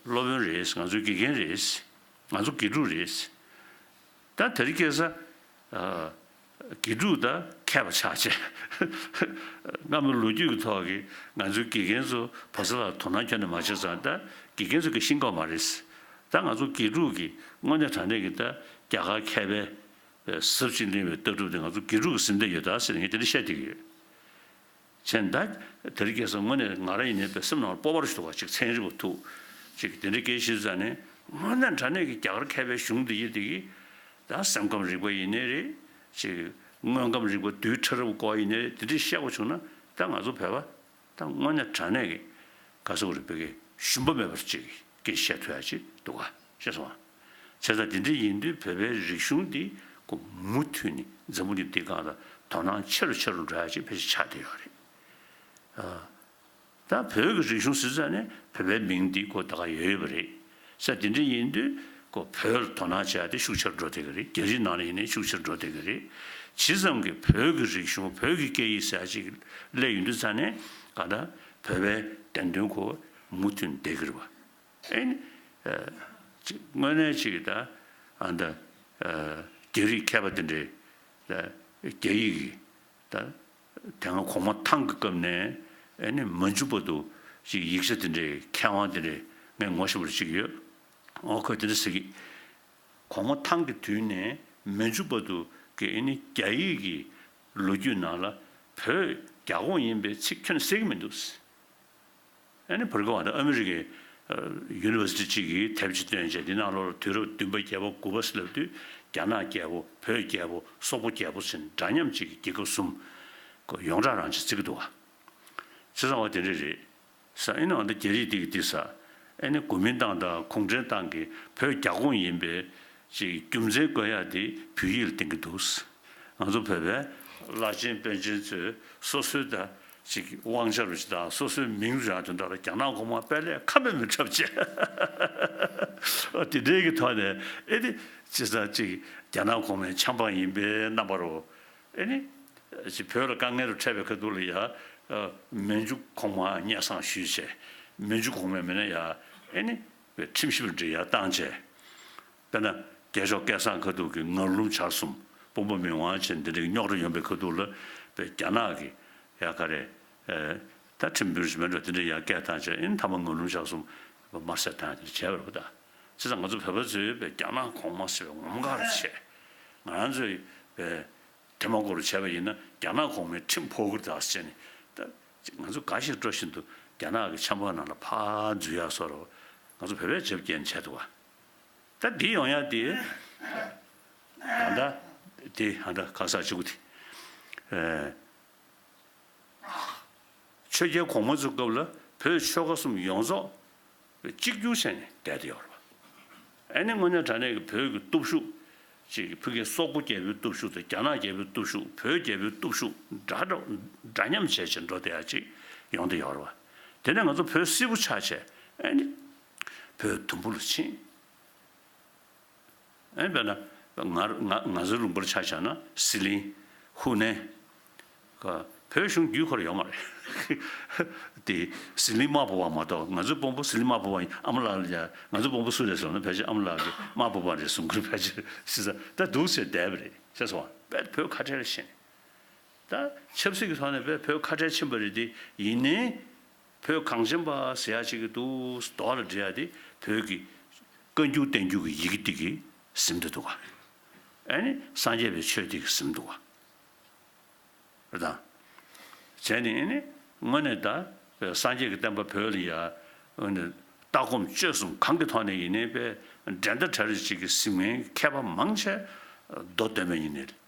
སློབ་དཔོན་རེད། ང་ཚོའི་དགེ་རྒན་རེད། ང་ཚོ་དགེ་ཕྲུག་རེད། ད་དེར་སྐྱེས་ས། དགེ་ཕྲུག་ད་མཁས་པ་ཆགས་ཆེ། སྔ་མོའི་ལོ་རྒྱུས་ཀྱི་ཐོག་གི་ང་ཚོའི་དགེ་རྒན་ཚོ་བོད་ས་ལ་དོ་སྣང་ཁྱོན་ནས་མ་བྱས་ཙང་ད་དགེ་རྒན་ཚོ་གི་ཤིང་ཀང་མ་རེད། ད་ང་ཚོ་དགེ་ཕྲུག་གིས་དངོས་གནས་དྲང་གནས་ཀྱི་ད་རྒྱ་གར་མཁས་པའི། ཟབ་ཅིང་བརླིང་བའི་ལྟ་གྲུབ་དེ་ང་ཚོ་དགེ་ཕྲུག་གི་སེམས་རྩ་ཡོད་དཱ་ཟེར་ནས་ངས་དེ་རིང་བཤད་བསྡད་ཀྱི་ཡོད། ཚེ་མདའ། དེ་རིང་སྐྱེས་སར་དངོས་གནས་ང་རང་ཡིན་ནའི་བའི་སེམས་ནང་ལ་སྤོབས་པ་རེ་ཞིག་འདུག་བ་ཅིག་ཚན་རིག་པ་ཐུག། ཅིག་དེ་འདྲའི་སྐད་ཤེས་ཚུལ་ཙང་ནི། དངོས་གནས་འདྲ་གནས་ཀྱི་རྒྱ་གར་མཁས་པའི་གཞུང་འདི་ཡི་དེ་གི། ད་སེམས་ཁམས་རིག་པ་ཡིན་ནའི་རེད། ཅིག། དངོས་ཁམས་རིག་པ་རྡུལ་ཕྲ་རབ་བཀོག་ཡིན་ནའི་རེད་དེ་འདྲའི་བཤད་སྒོ་བྱུང་ན། ད་ང་ཚོ་བོད་པ། དང་དངོས་གནས་དྲང་གནས་ཀྱི་དགའ་ཚོར་རེ་སྤེལ་མཁན་ཞུམ་པ་མེད་པར་ཅིག་གིས་བཤད་ཐུབ་ཡག་ཅིག་འདུག་ག་ཤེས་སོང་ཨ། བྱས་ཙང་དེ་འདྲའི་ཡིན་དུས་བོད་པའི་རིག་གཞུང་འདི་ཀུ་མུ་མཐུད་ནས་འཛམ་བུ་གླིང་འདིའི་སྒང་ལ་དོ་སྣང་ཆེ་རུ་ཆེ་རུ་འགྲོ་ཡག་ཅིག་ཕལ་ཆེར་ཆགས་བསྡད་ཡོད་རེད། ད་བོད་ཀྱི་རིག་གཞུང་ཟེར་ཙང་ནས་བོད་པའི་མིང་འདི་ཀུ་ད་ག་ཡོད་ཡོད་པ་རེད། ས་དེ་འདྲ་ཡིན་དུས་ཁོ་བོས་དོ་སྣང་བྱས་ཏེ་ཤུགས་ཆེར་འགྲོ་བདེ་གི་རེད་རྒྱ་རིགས་ནང་ལ་ཡིན་ནའི་ཤུགས་ཆེར་འགྲོ་བདེ་གི་རེད། ཇི་ཙམ་གྱི་བོད་ཀྱི་རིག་གཞུང་བོད་ཀྱི་སྐད་ཡིག་ཟེར་ཅིག་ལས་ཡོད་འདུག་ཙང་ནས་གང་ལྟར་བོད་པའི་བདེན་དོན་ཁོ་བོས་མུ་མཐུད་བདེ་གི་རེད་བ། ཨེ་ནི། དངོས་གནས་ཅིག་ད་ཨ་ད་རྒྱ་རིགས་མཁས་པ་དེ་འདྲས་ད་རྒྱ་ཡིག་གི་ད་དེ་སྔ་གོང་མ་ཐང་གི་སྐབས་ནས་ནི་མ་འཇུག་པ་དུ་ཅིག་ཡིག་ཆ་དེ་འདྲའི་མཁས་དབང་དེ་འདྲའི་ངས་ངོ་ཤེས་པར་ཅིག་ཡོད། འོ་ཁོས་དེ་འདྲ་ཟེར་གི། གོང་མ་ཐང་གི་དུས་ནས་མ་འཇུག་པ་དུ་ཀྱི་ནི་རྒྱ་ཡིག་གི་ལོ་རྒྱུས་ནང་ལ་བོད་རྒྱ་ཁོངས་ཡིན་པའི་ཚིག་ཁྱོན་གསལ་གི་མི་འདུག། ཨ་ནི་བྷུར་གྷ་བྷ་དང་ཨ་མི་རི་ཀའི། University། གཅིག་གིས་དེབ་གཅིག་བཏོན་རྗེས་འདི་ནང་ལོ་ལ་དུས་རབས་བདུན་པ་བརྒྱད་པ་དགུ་པ་སླེབས་དུས་རྒྱ་ནག་རྒྱལ་པོ་བོད་རྒྱལ་པོ་སོག་པོ་རྒྱལ་པོ་ཟིན་འདྲ་མཉམ་གཅིག་གི་རྒྱལ་ཁབ་གསུམ། གོ། ཡོངས་གྲགས་རང་གཅིག་བརྩི་གི་འདུག་ཨ། ཚེ་བཟང་བ་དེ་འདྲས་རེད། ས་ཨེ་ནི་ཨ་མདོ་རྒྱ་རིགས་དེ་གི་དེ་ས། ཨེ་ནི་གོ་མིན་ཏང་དང་གུང་ཁྲན་ཏང་གི་བོད་རྒྱ་ཁོངས་ཡིན་པས། ཅེས་རྒྱུ་མཚན་བཀོད་ཡག་དེ་བོད་ཡིག་ལ་བསྟན་གི་འདུག། ང་ཚོ་བོད་པའི། བླ་ཆེན་དཔོན་ཆེན་ཚོས་སོ་སོའི་ད། ཅིག་དབང་ཆ་རུ་ཞིག་དང་སོ་སོའི་མིང་རུ་ཡང་དེ་འདྲ་ལ་རྒྱ་ནག་གོང་མ་དཔལ་ལས་ཁ་མེད་མི་འཁྲབ་ཅེས། དེ་འབྲེལ་གྱི་ཐོག་ནས་ཨེ་ཏི། ཅེས་སང་ཅིག་རྒྱ་ནག་གོང་མའི་ཆབ་འབངས་ཡིན་པའི་རྣམ་པ་རུ། ཨེ་ནི། ཅིག་བོད་ལ་དཀའ་ངལ་རུ་འཕྲད་པའི་ཁ་ཐུག་ལ་ཡང། མན་ཇུ་གོང་མ་སྙད་སང་ཞུས་བྱས། མན་ཇུ་གོང་མའི་མི་སྣ་ཡང། ཨེ་ནི། བའི་ཁྲིམས་ཞིབ་ལ་འདྲི་ཡར་བཏང་བྱས། དཔེར་ན། རྒྱལ་ཤོག་སྐལ་བཟང་ཁ་ཐུག་གི་ངར་ལུམ་བྱར་གསུམ་དཔུང་པ་མི་དབང་ཆེན་འདི་འདྲ་གི་རྙོག་དྲ་ཡོང་པའི་ཁ་ཐུག་ལ་པའི་རྒྱ་ནག་གི་ཡ་ག་རེ། ད་ཁྲིམས་བོད་རིགས་མེད་འགྲོ་དེ་འདྲའི་ཡ་སྐད་བཏང་ཆ་ཨིན་མཐའ་མ་ངར་ལུམ་བྱར་གསུམ་པ་མར་སེར་བཏང་ཡ་དེ་འདྲ་བྱས་པ་རེད་པོ་ད་ཚེ་ད་ང་ཚོ་བོད་པ་ཚོས་པའི་རྒྱ་ནག་གོང་མ་ཟེར་བའི་ངོམ་དགའ་རུ་བྱས། ང་རང་ཚོས་པའི་དེ་མ་གོ་རུ་བྱས་པ་ཡིན་ན་རྒྱ་ནག་གོང་མའི་ཁྲིམས་ཕོག་གིར་ད་ཚེ་ནི་ད་ཚེ་ང་ཚོ་དགའ་ཞིང་སྤྲོ་བཞིན་དུ་རྒྱ་ནག་གི་ཆམ་པ་ནང་ལ་ཕ་འཛུལ་ཡ་སོ་ར་བ་ང་ཚོ་བོད་པས་བྱབ་རྒྱལ་ནི་བྱས་འདུག་ག། ད་འདི་ཡོང་ཡག་འདི། ད་ད་འདི་ཧ་འདྲ་ག་ས་ཅུག་འདི། ཆོས་རྒྱལ་གོང་མ་ཚུགས་སྐབས་ལ་བོད་ཆོལ་ཁ་གསུམ་ཡོངས་རྫོགས་གཅིག་གྱུར་བྱས་ནས་བསྡད་དེ་ཡོད་རེད་པ། ཨ་ནི་དངོས་གནས་དྲ་གནས་ཀྱི་བོད་ཀྱི་སྟོབས་ཤུགས། ཅེས་ཀྱི་ཕི་གེ་སོག་པོ་རྒྱལ་པོའི་སྟོབས་ཤུགས་དང་རྒྱ་ནག་རྒྱལ་པོའི་སྟོབས་ཤུགས་བོད་རྒྱལ་པོའི་སྟོབས་ཤུགས་འདྲ་འདྲ་འདྲ་མཉམ་བྱས་བྱས་འགྲོ་དེ་ཡག་ཅིག་ཡོང་དེ་ཡོད་རེད་པ། དེ་ནས་ང་ཚོ་བོད་སིལ་བུ་ཆགས་བྱས་ཨ་ནི། བོད་དུམ་བུ་ལ་ཕྱིན། ཨེ་བོད་ན། ང་ཟི་ལུང་པར་ཆ་བཞག་ན་ཟི་ལིང། ཧུ་ནན། ཁ། བོད་གཞུང་བརྒྱུད་འཁོར་ཡོད་མ་རེད། དེ་ཟི་ལིང་དམར་པོ་བ་མ་གཏོགས་ང་ཚོའི་དཔོན་པོ་ཟི་ལིང་དམར་པོ་བ་ཡིན་ཨ་མ་ལགས་ལ་ང་ཚོའི་དཔོན་པོ་སུ་རེད་ཟེར་ན་ཕལ་ཆེར་ཨ་མ་ལགས་ཀྱི་དམར་པོ་བ་རེད་གསུང་གི་རེད་ཕལ་ཆེར་ཤི་ས་ད་སྡུག་ཆེ་བསྡད་པ་རེད་ཤེས་སོང་ཨ་བས་བོད་ཁ་བྲལ་ཕྱིན། ད་ཆབ་སྲིད་ཀྱི་ཐོག་ནས་བས་བོད་ཁ་བྲལ་ཕྱིན་པ་རེད་དེ་ཡིན་ནའི། བོད་གངས་ཅན་པ་ཟེར་ཡག་བྱེད་ཀྱི་འདུག་མདོ་ལ་འབྲི་ཡག་དེ་བོད་ཀྱི་བཀའ་འགྱུར་བསྟན་འགྱུར་གྱི་ཡི་གེ་དེ་གི་གཟིམ་དུ་འདུག་ག་ཨ་ནི་སངས་རྒྱས་པའི་ཆོས་དེ་གི་གཟིམ་འདུག་ག་རེད་དང། བྱས་ནས་ཨ་ནི་དངོས་ནས་ད་སངས་རྒྱས་ཀྱི་བསྟན་པ་བོད་ལ་ཡ་ཨ་ནི་ལྟ་སྒོམ་སྤྱོད་གསུམ་གང་གི་ཐོག་ནས་ཡིན་ནའི་པའི་འགྲན་ཟླ་གྲ་རེ་བྱེད་ཀྱི་གཟིམ་མཁན་མཁས་པ་མང་ཆེ་མདོ་སྟོན་པ་ཡིན་ནའི།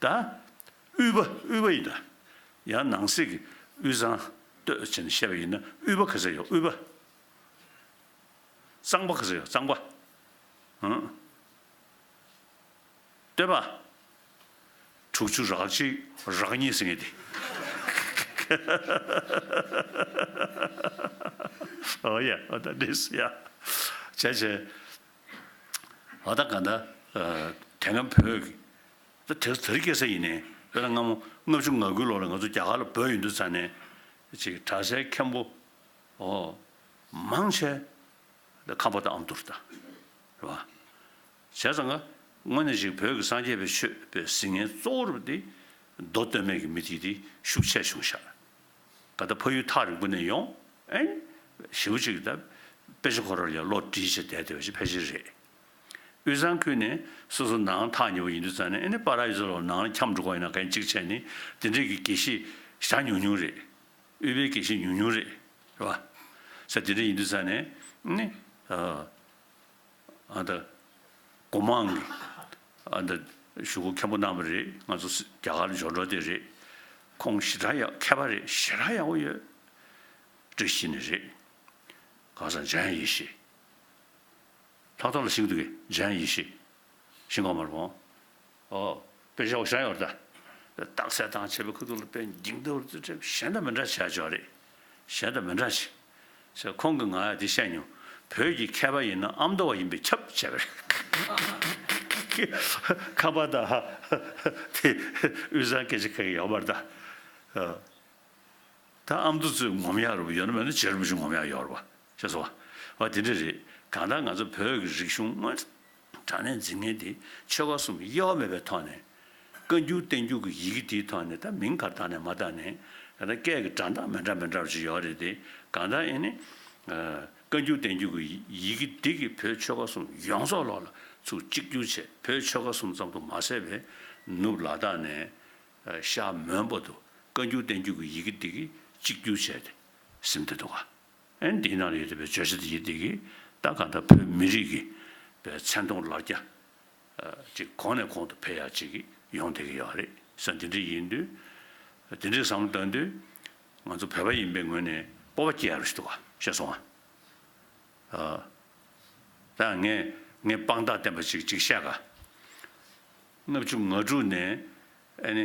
བཟླ། དབུལ་བ་དབུལ་བ་ཡིས་བཟླ། ཡང་ནང་གསེས་ཀྱི་དབུས་གཙང་སྟོད་ཅེས་ནས་བཤད་པ་ཡིན་ན་དབུལ་བ་ག་ཚད་ཡོད་དབུལ་བ། གཙང་པ་ག་ཚད་ཡོད་གཙང་པ། སྟོད་པ། དྲུག་ཅུ་རག་གཅིག་རག་གཉིས་ཟེར་ངེས་ཏེ། འོ་ཡ་འོ་ད་འདྲེས་སོ་ཡ། བྱས་བྱས། འོ་ད་ག་ད་དེ་སྔ་བོད། ད་དེར་ཟེར་སྐྱེལ་ས་ཡིན་ནས་དཔེར་ན་སྔ་མོ་ལྔ་བཅུ་ང་དགུའི་ལོ་ལ་ང་ཚོ་རྒྱ་གར་ལ་བོད་ཡིན་དུས་ཚར་ནས་ཅིག་གྲྭ་སའི་མཁན་པོ་ཨོ་མང་ཆེ་ད་ཁམས་པ་དང་ཨམ་དུར་དང་རེད་བ། བྱས་ཙང་ང་དངོས་གནས་ཞིག་བོད་ཀྱི་སངས་རྒྱས་པའི་ཆོས་པའི་གཟིགས་ངན་གཙོ་བོར་བ་དེ་མདོ་སྟོད་སྨད་ཀྱི་མི་དེ་དེ་ཤུགས་ཆེ་བྱུང་ཤག་ག་ད་ཕ་ཡུལ་ཐག་རིང་པོ་ནས་ཡོང་ཨེ་ཞེ་བོ་ཅིག་ད་དཔེ་ཆ་ཁོ་རར་ཡང་ལོག་བྲིས་བྱས་བསྡད་བསྡད་བྱས་ཕལ་ཆེར་རེད། དབུས་གཙང་ཁུལ་ནི་སོ་སོ་ནའང་ཐག་ཉེ་བོ་ཡིན་དུས་ཙང་ནས་ཨེ་ནི་པཱ་ར་ཡི་སོ་ལོ་ནའང་འཁྱམས་འགྲོ་ག་ཡིན་ན་གན་གཅིག་བྱས་ནི་དེ་འདྲས་ཀྱི་དགེ་བཤེས་ཞག་ཉུང་ཉུང་རེད། དབུས་པའི་དགེ་བཤེས་ཉུང་ཉུང་རེད། རེད་བ། ས་དེ་འདྲས་ཡིན་དུས་ཙང་ནས་ཨེ་ནི། ཨ་ད། གོ་མང་གི། ཨ་ད། ཞུ་སྒོ་མཁན་པོ་གནང་བ་རེད་ང་ཚོ་སི་རྒྱ་གར་འབྱོར་འགྲོ་དེ་རེད། ཁོང་ཞི་དྲག་ཡག་མཁས་པ་རེད་ཞི་དྲག་ཡག་པོ་ཡོད། བཀྲ་ཤིས་ནི་རེད། གང་ཟག་འཇམ་ཡེ་ཤེས། ལྷག་མཐོང་ལ་ཞིག་ཏུ་གཞན་ཡིད་ཤེས། ཞིང་གོང་མར་འོང། ཨོ། དཔེ་བྱ་བ་གཞན་ཡོད་ལྟ། རྟགས་གསལ་དང་བྱེད་པའི་ཁུ་ཐུག་ལ་དཔེ་འཇིག་རྟེན་བར་རྩོད་ཁྲིམས་གཞན་དང་མི་འདྲ་བྱས་ཆོག་རེད། གཞན་དང་མི་འདྲ་བྱས། ཞེས་ཁོང་གིས་ང་ལ་དེ་བཤད་མྱོང། བོད་ཀྱི་མཁས་པ་ཡིན་ན་ཨ་མདོ་བ་ཡིན་པས་ཁྱབ་བྱས་པ་རེད། ཁམས་པ་དང། དེ་དབུས་གཙང་སྐད་ཆ་ཁ་ཡག་ཡོད་པར་གདའ། ད་ཨ་མདོ་གཙོས་ངོམ་ཡག་རུབ་ཡོད་ན་མེད་ན་བྱེད་རུབ་བཞིན་ངོམ་ཡག་ཡོད་རེད་བ། ཞེས་སོ། བ་དེ་འདྲ་རེད། གང་ལྟར་ང་ཚོ་བོད་ཀྱི་རིག་གཞུང་དངོས། དྲང་གནས་འཛིན་མཁན་དེ་ཆོལ་ཁ་གསུམ་དབྱེ་བ་མེད་པའི་ཐོག་ནས། བཀའ་འགྱུར་བསྟན་འགྱུར་གྱི་ཡི་གེ་དེའི་ཐོག་ནས་ད་མིང་གར་བཏགས་ནས་མ་བཏགས་ནས། ད་སྐད་ཀྱི་དྲང་ཐག་མི་འདྲ་མི་འདྲ་བ་ཅིག་ཡོད་རེད་དེ། གང་ལྟར་ཨེ་ནི། བཀའ་འགྱུར་བསྟན་འགྱུར་གྱི་ཡི་གེ་འདི་གིས་བོད་ཆོལ་ཁ་གསུམ་ཡོངས་རྫོགས་ལོག་ལ་ཚུགས་གཅིག་གྱུར་ཆེད་བོད་ཆོལ་ཁ་གསུམ་ཙམ་དུ་མ་ཟད་པའི་ནུབ་ལ་དྭགས་ནས། ཤར་མོན་པ་དུ་བཀའ་འགྱུར་བསྟན་འགྱུར་གྱི་ཡི་གེ་འདི་གིས་གཅིག་གྱུར་བྱས་ཏེ། སིམ་སྟེ་འདུག་ག། ཨན་ཏི་ནཱ་རི་ཡོད་པའི་བརྗོད་བྱ་དེ་ཡིན་སྟེ་ཀི་ད་ག་ད་བོད་མི་རིགས་ཀྱི་པའི་མཚན་མཐོང་ལ་རྒྱ་ཅིག་གོང་ནས་གོང་དུ་འཕེལ་ཡག་ཅིག་གི་ཡོང་བསྡད་ཀྱི་ཡོད་རེད་བསམ་དེ་འདྲ་ཡིན་དུས་དེ་འདྲའི་བསམ་བློ་བཏང་དུས་ང་ཚོ་བོད་པ་ཡིན་པའི་ངོས་ནས་སྤོབས་པ་སྐྱེ་ཡག་རེད་ཞུ་བ་ཤེས་སོང་ཨ་ད་ངས་ངའི་དཔང་རྟགས་བསྟན་པ་ཅིག་ཅིག་བཤད་ག། ལྔ་བཅུ་ང་དྲུག་ནས་ཨ་ནི་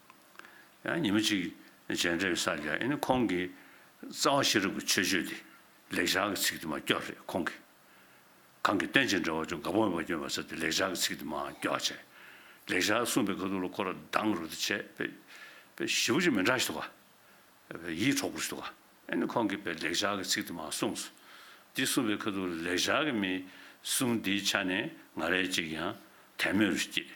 ཉིན་མོ་གཅིག་མཇལ་འཕྲད་པའི་ས་རྒྱ་ཡིན་ན་ཁོང་གིས་རྩ་བ་ཤེས་རབ་ཀྱི་ཆོས་སྤྱོད་དེ་ལེགས་སྦྱར་གྱི་ཚིག་དེ་མ་སྐྱོ་རེད་ཁོང་གིས། གང་གི་སྟོན་བྱེད་འདྲ་བ་ཅུང་དགའ་པོ་མེད་པ་སྐྱོན་པ་ཟེར་ཏེ་ལེགས་སྦྱར་གྱི་ཚིག་དེ་མ་སྐྱོ་བ་བྱས། ལེགས་སྦྱར་གསུངས་པའི་ཁ་ཐུག་ལ་ཁོ་ར་སྡང་རུ་དེ་བྱས། བེ་བཞི་བོ་ཅིག་མི་འདྲ་ཞིག་འདུག་ག། བེ་ཡིད་འཕྲོག་པོ་ཞིག་འདུག་ག། ཨེ་ནི་ཁོང་གིས་བེ་ལེགས་སྦྱར་གྱི་ཚིག་དེ་མ་གསུངས་སོ། འདི་གསུངས་པའི་ཁ་ཐུག་ལ་ལེགས་སྦྱར་གྱི་མི་གསུང་དེའི་ཆ་ནས་ང་རེ་གཅིག་ཡང་དད་མོས་རུ་སྐྱེས།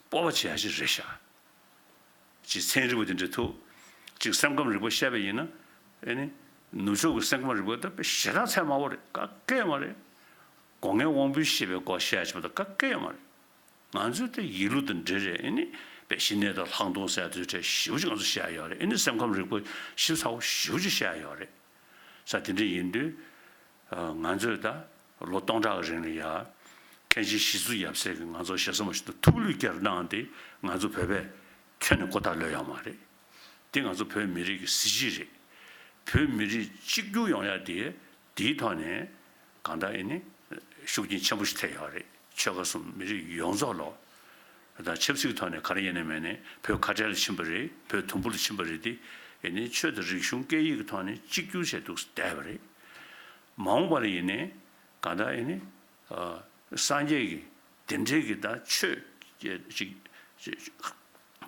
སྤོབས་པ་ཆེ་ཧ་ཅིག་རེད་ཤག། ཅེས་མཚན་རིང་པོ་དེ་འབྲི་ཐུབ། གཅིག་སེམས་ཁམས་རིག་པ་བཤད་པ་ཡིན་ན། ནུབ་ཕྱོགས་ཀྱི་སེམས་ཁམས་རིག་པ་ལྟ་བུའི་ཞེ་དྲག་ཚད་དམའ་བོ་རེད་ཀ་ཀའི་མ་རེད། སྒོ་ངའི་དབང་པོའི་ཤེས་པའི་སྐོར་བཤད་བྱེད་པ་དང་ཀ་ཀའི་མ་རེད། ང་ཚོས་ཏེ་ཡིག་ལུགས་དང་འབྲེལ་རེད་ཨེ་པའི་ཞི་གནས་དང་ལྷག་མཐོང་གསལ་ཐོའི་ཕྲད་ཞིབ་ཅིག་ང་ཚོས་བཤད་ཡོད་རེད་ཨེ་སེམས་ཁམས་རིག་པ་ཞིབ་ཚགས་པོ་ཞིབ་ཅིག་བཤད་ཡོད་རེད། ས་དེ་འདྲ་ཡིན་དུས། ང་ཚོས་ད། ལོ་སྟོང་ཕྲག་རིང་ལ་ཡར། མཁན་ཆེན་ཞི་བསུ་ཡབ་སྲས་ཀྱིས་ང་ཚོར་ཞལ་བཟང་པོ་ཞིག་དང་ཐུགས་ལུས་བསྐྱར་གནང་སྟེ་ང་ཚོ་བོད་པས་ཁྱོན་ནས་ཀོ་ཐག་ལོས་ཡག་མ་རེད། འདི་ང་ཚོ་བོད་མི་རིགས་ཀྱི་གཟི་བརྗིད་རེད། བོད་མི་རིགས་གཅིག་གྱུར་ཡོང་ཡག་དེ་དེའི་ཐོག་ནས་གང་འདྲ་ཡིན་ནི་ཤུགས་རྐྱེན་ཆེན་པོ་ཞིག་ཐེབས་ཡག་རེད་ཆོལ་ཁ་གསུམ་མི་རིགས་ཡོངས་རྫོགས་ལ། དང་ཆབ་སྲིད་ཀྱི་ཐོག་ནས་ག་རེ་ཡིན་ནི་མེད་ནི་བོད་ཁ་བྲལ་ལ་ཕྱིན་པ་རེད་བོད་དུམ་བུ་ལ་ཕྱིན་པ་རེད་དེ་ཡིན་ནི་ཆོས་དང་རིག་གཞུང་སྐད་ཡིག་གི་ཐོག་ནས་གཅིག་གྱུར་བྱས་འདུག་བསྡད་པ་རེད། མ་འོངས་པར་ཡིན་ནས་གང་དག་ཡིན་ནས་སངས་རྒྱས་ཀྱི་བདེན་འབྲེལ་གྱི་ད་ཆོས་ཅིག་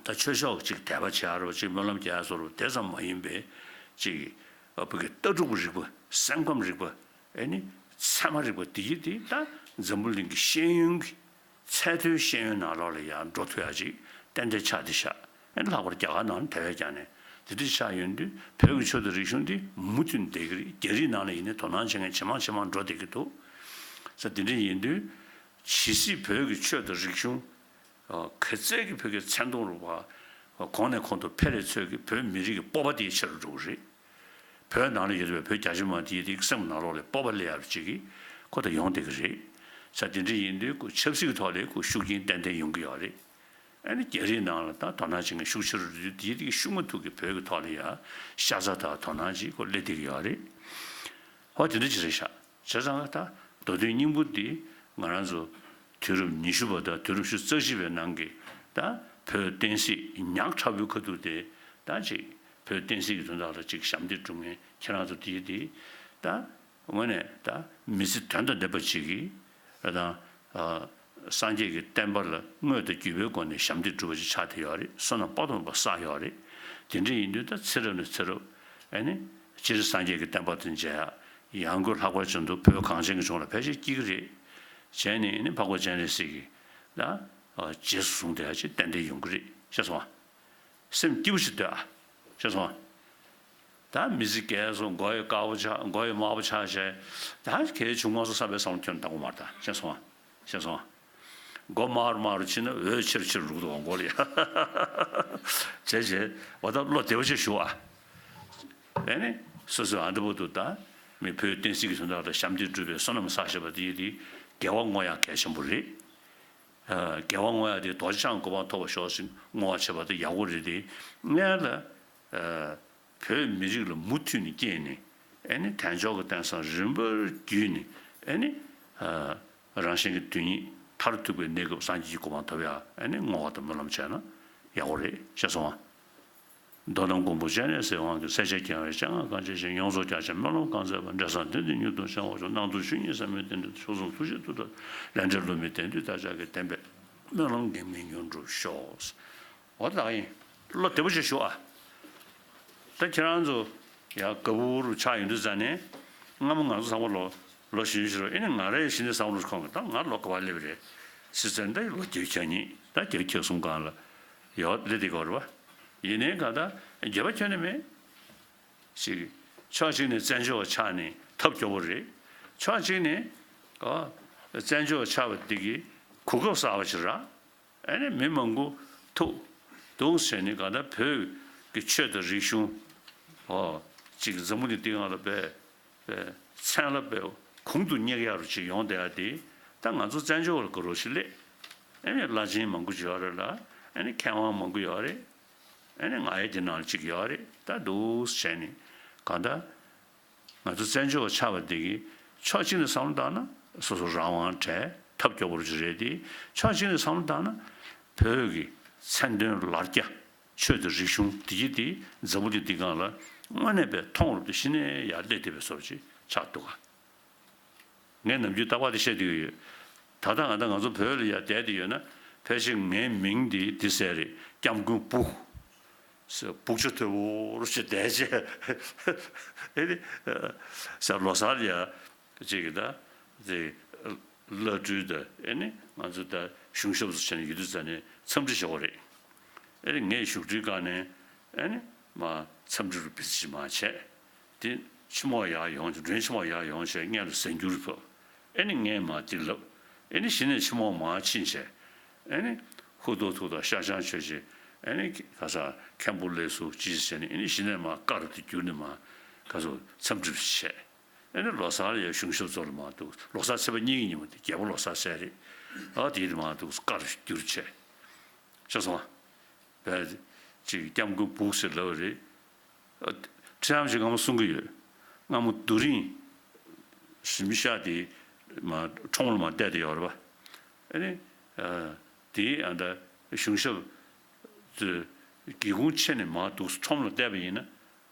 ད་ཆོས་ཤོག་ཅིག་དད་པ་བྱ་རོག་ཅིག་སྨོན་ལམ་རྒྱ་སོ་རོག་དེ་ཙམ་མ་ཡིན་པའི་ཅིག་བོད་ཀྱི་ལྟ་གྲུབ་རིག་པ་སེམས་ཁམས་རིག་པ་ཨེ་ནི་ཚད་མ་རིག་པ་འདི་གྱིས་དེ་ད་འཛམ་བུ་གླིང་གི་ཤེས་ཡོན་གྱི། ཚད་མཐོའི་ཤེས་ཡོན་ནང་ལོགས་ལ་ཡར་འགྲོ་ཐུབ་ཡ་ཅིག་གཏན་དེ་ཆགས་དེ་ཤག་ཨེ་ལྷག་པར་རྒྱ་གར་ནང་དེ་བས་ཀྱང་ནས་དེ་འདྲ་ཆགས་ཡོད་དུས་བོད་ཀྱི་ཆོས་དང་རིག་གཞུང་དེ་མུ་མཐུད་འདས་ཀྱི་རེད་རྒྱ་རིགས་ནང་ལ་ཡིན་ནའི་དོ་སྣང་བྱེད་མཁན་ཇེ་མང་ཇེ་མང་འགྲོ་བསྡད་ཀྱི་འདུག་ས་དེ་འདྲ་ཡིན་དུས་ཇི་སྲིད་བོད་ཀྱི་ཆོས་དང་རིག་གཞུང་གི་རྩལ་གྱི་བོད་ཀྱི་མཚན་མཐོང་རུང་བ་གོང་ནས་གོང་དུ་འཕེལ་རེ་ཚོད་ཀྱི་བོད་མི་རིགས་ཀྱི་སྤོབས་པ་དེ་ཆེ་རུ་འགྲོ་གི་རེད། བོད་ནང་ལ་ཡོད་པའི་བོད་རྒྱ་ཆེ་མང་དེ་ཡི་རིགས་སེམས་ནང་ལོག་ལས་སྤོབས་པ་ལས་ཡར་བྱེད་ཀི་ཁོ་ད་ཡོང་བསྡད་ཀི་རེད། ཆ་དེ་འདྲི་ཡིན་དུས་ཁོ་ཆབ་སྲིད་ཀི་ཐོག་ལས་ཁོ་ཤུགས་རྐྱེན་ཏན་ཏན་ཡོང་གི་ཡོག་རེད། ཨ་ནི་རྒྱ་རིགས་ནང་ལ་ད་དོ་སྣང་བྱེད་མཁན་ཤུགས་ཆེ་རུ་འགྲོ་དུས་དེ་ཡི་རིགས་ཤུགས་མ་ཐུག་གི་བོད་ཀི་ཐོག་ལ་ཡ་ཤ་ཚ་དག་དོ་སྣང་བྱེད་ཁོ་སླེབས་བསྡད་ཀི་ཡོག་རེད། ཧོ་དེ་འདྲ་ཅི་རེད་ཤག་བྱས་ཙང་ང་ད་མདོ་སྟོད་སྙིང་པོ་དེ་ང་རང་ཚོ་དུས་རབས་ཉི་ཤུ་པ་དང་དུས་རབས་ཞུ་རྩ་བཞི་པའི་ནང་གི་ད་བོད་བསྟན་སྲིད་ཉག་ཕྲ་བོའི་ཁ་ཐུག་དེ་ད་ཅིག་བོད་བསྟན་སྲིད་ཀྱི་དོན་དག་ལ་གཅིག་ཞབས་འདེགས་བསྒྲུབ་མཁན་ཁྱེད་རང་ཚོ་དེའི་དེ་ད་ངོ་ནས་ད་མི་ཚེ་དོན་དང་ལྡན་པ་གཅིག་གིས་ར་དང་སངས་རྒྱས་ཀྱི་བསྟན་པ་ལ་དངོས་དང་བརྒྱུད་པའི་སྒོ་ནས་ཞབས་འདེགས་བསྒྲུབ་པ་ཅིག་ཆགས་བསྡད་ཡོད་རེད་བསོད་ནམས་དཔའ་ཐོབ་པ་བསགས་ཡོད་རེད་དེ་འདྲས་ཡིན་དུས་ད་ཚེ་རབས་ནས་ཚེ་རབས་ཨེ་ནི་སྤྱིར་སངས་རྒྱས་ཀྱི་བསྟན་པ་དང་མཇལ་ཡང་དགོས་ལྷག་པར་བྱུང་འདུག་བོད་གངས་ཅན་གྱི་ལྗོངས་ལ་ཕལ་ཆེར་སྐྱིད་ཀྱི་རེད་གཞན་ནི་ཨེ་ནི་འཕགས་པ་སྤྱན་རས་གཟིགས་ཀྱིས་ད་རྗེས་སུ་བཟུང་སྟེ་ཧ་ཅིག་ཏན་ཏན་ཡོང་གི་རེད་ཤེས་སོང། སེམས་སྐྱིད་པོ་ཞིག་འདོད་ཨ། ཅེས་སོང། ད་མི་ཚེ་གས་སོ་མགོ་ཡི་དཀར་པོ་ཆགས་མགོ་ཡི་དམར་པོ་ཆགས་བྱས། ད་གས་བྱུང་མ་སོ་བསམ་པའི་བསམ་བློ་ཁྱོད་ནི་ད་མགོ་དམར་ད་ཅེས་སོང། ཅེས་སོང། མགོ་དམར་དམར་རུ་ཕྱིན་ན་འོད་ཆེར་ཆེར་འབྲུག་ཏུ་འོང་གོ་ལེ། བྱས་བྱས་བ་ད་བློ་བདེ་བོ་ཆེ་ཞུ་ཨ། དེ་ནས་སོ་སོའི་ཨ་འདྲ་བོ་དུ་ད་མི་བོའི་བསྟན་སྲིད་ཀྱི་དོན་དག་ལ་ཞབས་འདེགས་སྒྲུབ་པའི་བསོད་ནམས་བསགས་ཤེས་པ་དེ་ཡིན་ཏེ་དགེ་བ་བསྔོ་ཡང་གལ་ཆེན་པོ་རེད། རྒྱལ་བ་དངོས་ཡང་དེའི་རྡོ་རྗེ་འཆང་གི་གོ་འཕང་ཐོབ་པར་ཤོག་ཅིག་བསྔོ་བ་བྱེད་པ་དེ་ཡག་པོ་རེད་དེ། ལྔའི་ལ། བོད་མི་རིགས་ལ་མུ་མཐུད་ནས་སྐྱེས་ནས། ཨེ་ནི་དལ་འབྱོར་གྱི་རྟེན་སང་རིམ་པར་བརྒྱུད་ནས། ཨེ་ནི། རང་གཞན་གྱི་དོན་ཉིད་མཐར་ཐུག་པའི་གནས་སྐབས་སངས་རྒྱས་ཀྱི་གོ་འཕང་ཐོབ་ཡ། ཨེ་ནི་བསྔོ་བ་དང་སྨོན་ལམ་བྱས་ན་ཡག་པོ་རེད་ཤེས་སོང་ཨ། མདོ་དང་མགོན་པོ་སྤྱན་རས་གཟིགས་དབང་གི་སྲས་ཆེ་རྒྱལ་བའི་སྤྱན་སྔར་བཀའ་ཆད་བཞིན་ཡོངས་རྫོགས་རྒྱ་ཆེན་སྨོན་ལམ་བསྐང་མཛད་པ་འབྲས་བཟང་དོན་འདི་མྱུར་དུ་འཆང་བར་ཤོག་སྣང་ཚུལ་ཆོས་ཉིད་ཟབ་མོའི་རྟེན་འབྲེལ་མཆོག་གསུམ་ཐུགས་རྗེ་ཐུགས་དམ་ལས་འབྲས་བསླུ་མེད་བདེ་འདུས་བདག་ཅག་གི་བདེན་པའི་སྨོན་ལམ་འགེངས་མེད་མྱུར་འགྲུབ་ཤོག། འོ་ད་ཡིན་བློ་བདེ་པོ་ཆེ་ཞུ་ཨ། ད་ཁྱེད་རང་ཚོ་ཡ་ག་བུ་བུ་རུ་ཆགས་ཡོང་དུས་ཙཱ་ནས་སྔ་མོ་ང་ཚོ་བཟང་པོ་ལོ་ལོ་བཞི་བཞི་རུ་ཨེ་ནས་ང་རེ་ཤི་ནས་བཟང་པོ་ལོ་ཁོང་གི་ད་ང་ལོ་ག་བ་སླེབས་རེད་སྲིད་ཙཱ་ནས་ད་ཡི་ལོ་བརྒྱད་བརྒྱ་གཉིས་ད་བརྒྱད་ཁྱེད་གསུམ་གང་ལ་ཡོད་རེད་དེ་གོ་རུ་བ། ཡིན་ནའི་ག་ད་རྒྱལ་བ་ཁྱོན་ནས་མེད། ཞིག། ཕྱོགས་གཅིག་ནས་བཙན་བྱོལ་བ་ཆགས་ནས་ཐབས་སྐྱོ་བོ་རེད། ཕྱོགས་གཅིག་ནས། ཨོ། བཙན་བྱོལ་བ་ཆགས་པ་འདི་གི་གོ་སྐབས་གསར་བ་ཞིག་རག། ཨེ་ནས་མི་མང་པོ་ཐུག། རྡུང་བྱས་ནས་ག་ད་བོད་ཀྱི་ཆོས་དང་རིག་གཞུང། ཨོ། ཅིག་འཛམ་བུ་གླིང་སྟེང་ཨ་ལ་བས། མཚན་ལ་པའི་གུང་དུ་བསྙེག་ཡ་རུ་ཅིག་ཡོང་བསྡད་ཡ་དེས་ད་ང་ཚོ་བཙན་བྱོལ་བར་དགོས་རོགས་ཤིག་སླེབས། ཨེ་ནས་བླ་ཆེན་མང་པོ་བྱོས་ཡ་རེད་ལ་ཨེ་ནས་མཁས་དབང་མང་པོ་ཡོད་ཡ་རེད། ཨེ་ནས་ང་ཡི་དེ་ནང་ལ་ཅིག་ཡོད་ཡ་རེད་ད་འདུག་བྱས་ནས་གང་ལྟར། ང་ཚོ་བཙན་བྱོལ་བ་ཆགས་པ་འདི་གི་ཕྱོགས་གཅིག་ནས་བསམ་བློ་བཏང་ན་སོ་སོ་རང་དབང་བྲལ་ཐབས་སྐྱོ་པོ་རུ་ཅིག་རེད་དེ་ཕྱོགས་གཅིག་ནས་བསམ་བློ་བཏང་ན་བོད་ཀྱི་མཚན་དོན་ལར་རྒྱ། ཆོས་འདི་རིག་གཞུང་འདི་ཀྱི་འདི་འཛམ་བུ་གླིང་འདི་གང་ལ་དངོས་གནས་པའི་མཐོང་རབ་ཏུ་ཤི་ནས་ཡར་བསླེབས་བསྡད་པའི་སོར་ཅིག་ཆགས་འདུག་ག། ངས་ནམ་རྒྱུན་ལྟ་བ་དེ་བཤད་དུ་ཡོད། ད་ལྟ་ང་དང་ང་ཚོ་བོད་ལ་ཡར་བསྡད་དེ་ཡོད་ན་ཕལ་ཆེར་ངའི་མིང་འདི་འདི་ཟེར་རེད་སྐྱབས་མགོན་བུ། སྦུག་ཆུ་ཐོད་པོ་རུ་ཆུ་བསྡད་རྗེས། ཨེ་ལེ། ཟེར་ལོ་སར་ཡར་ཅིག་གིས་ད་དེ་བླ་སྤྲུལ་ད་ཨེ་ནི་ང་ཚོ་ད་གཞུང་ཞབས་སུ་ཕྱིན་ནས་ཡུལ་དུས་ཚར་ནས་འཚམས་འདྲི་ཞུ་བ་རེད་ཨེ་རེད་ངས་བཞུགས་ཁྲི་བཀག་ནས་ཨེ་ནི་མ་འཚམས་འདྲི་རུ་བེད་སྤྱི་མ་བྱས་དེ་ཕྱི་མོག་ཡག་ཡོང་ཆ་མགྲོན་ཕྱི་མོག་ཡག་ཡོང་ཆས་མངལ་ལ་ཟན་འགྱུར་ཐུབ་ཨེ་ནི་ངས་མ་དེ་ལབ་ཨེ་ནི་གཞི་ནས་ཕྱི་མོག་མ་ཕྱིན་ཆས་ཨེ་ནི་ཧུ་དོ་ཐུག་ད་ཤ་ཆང་ཆོས་ཆེ་ཨེ་ནི་ག་ས་ཁན་པོ་ལས་སུ་ཇི་ཞིག་བྱས་ནས་ཨེ་ནི་གཞི་ནས་མ་བཀག་རུ་དེ་འགྱུར་ནས་མ་ག་ཚོད་འཚམས་འདྲི་བྱས། ཨེ་ནི་ལོ་སར་ཡ་གཞུང་ཞབས་ཚོ་ལ་མ་འདུག་ལོ་སར་ཚེས་པ་གཉིས་ཀྱི་ཉིན་མོ་དེ་རྒྱལ་པོ་ལོ་སར་ཚེས་རེད་ཨ་དེ་ཡིན་ན་མ་འདུག་བཀའ་རུ་བསྒྱུར་ཆེ་ཆེ་སོང་བས་ཅིག་སྐྱབས་མགོན་འབུག་ཟེར་ལབ་རེད་ཨ། ཁྲི་འམ་ཞིག་ང་མོ་གསུང་གི་ཡོད་ང་མོ་རྡོ་རིང་ཞིག་མི་ཤ་དེ་མ་ཁྲོ་མོ་ལ་མ་བལྟས་དེ་ཡོད་རེད་པ་ཨེ་ནི་ཨ་དེ་ཨ་འདྲ་གཞུང་ཞབས་ཚོས་སྒེའུ་ཁུང་ཕྱེ་ནས་མ་འདུག་ཁྲོ་མོ་ལ་བལྟས་པ་ཡིན་ན།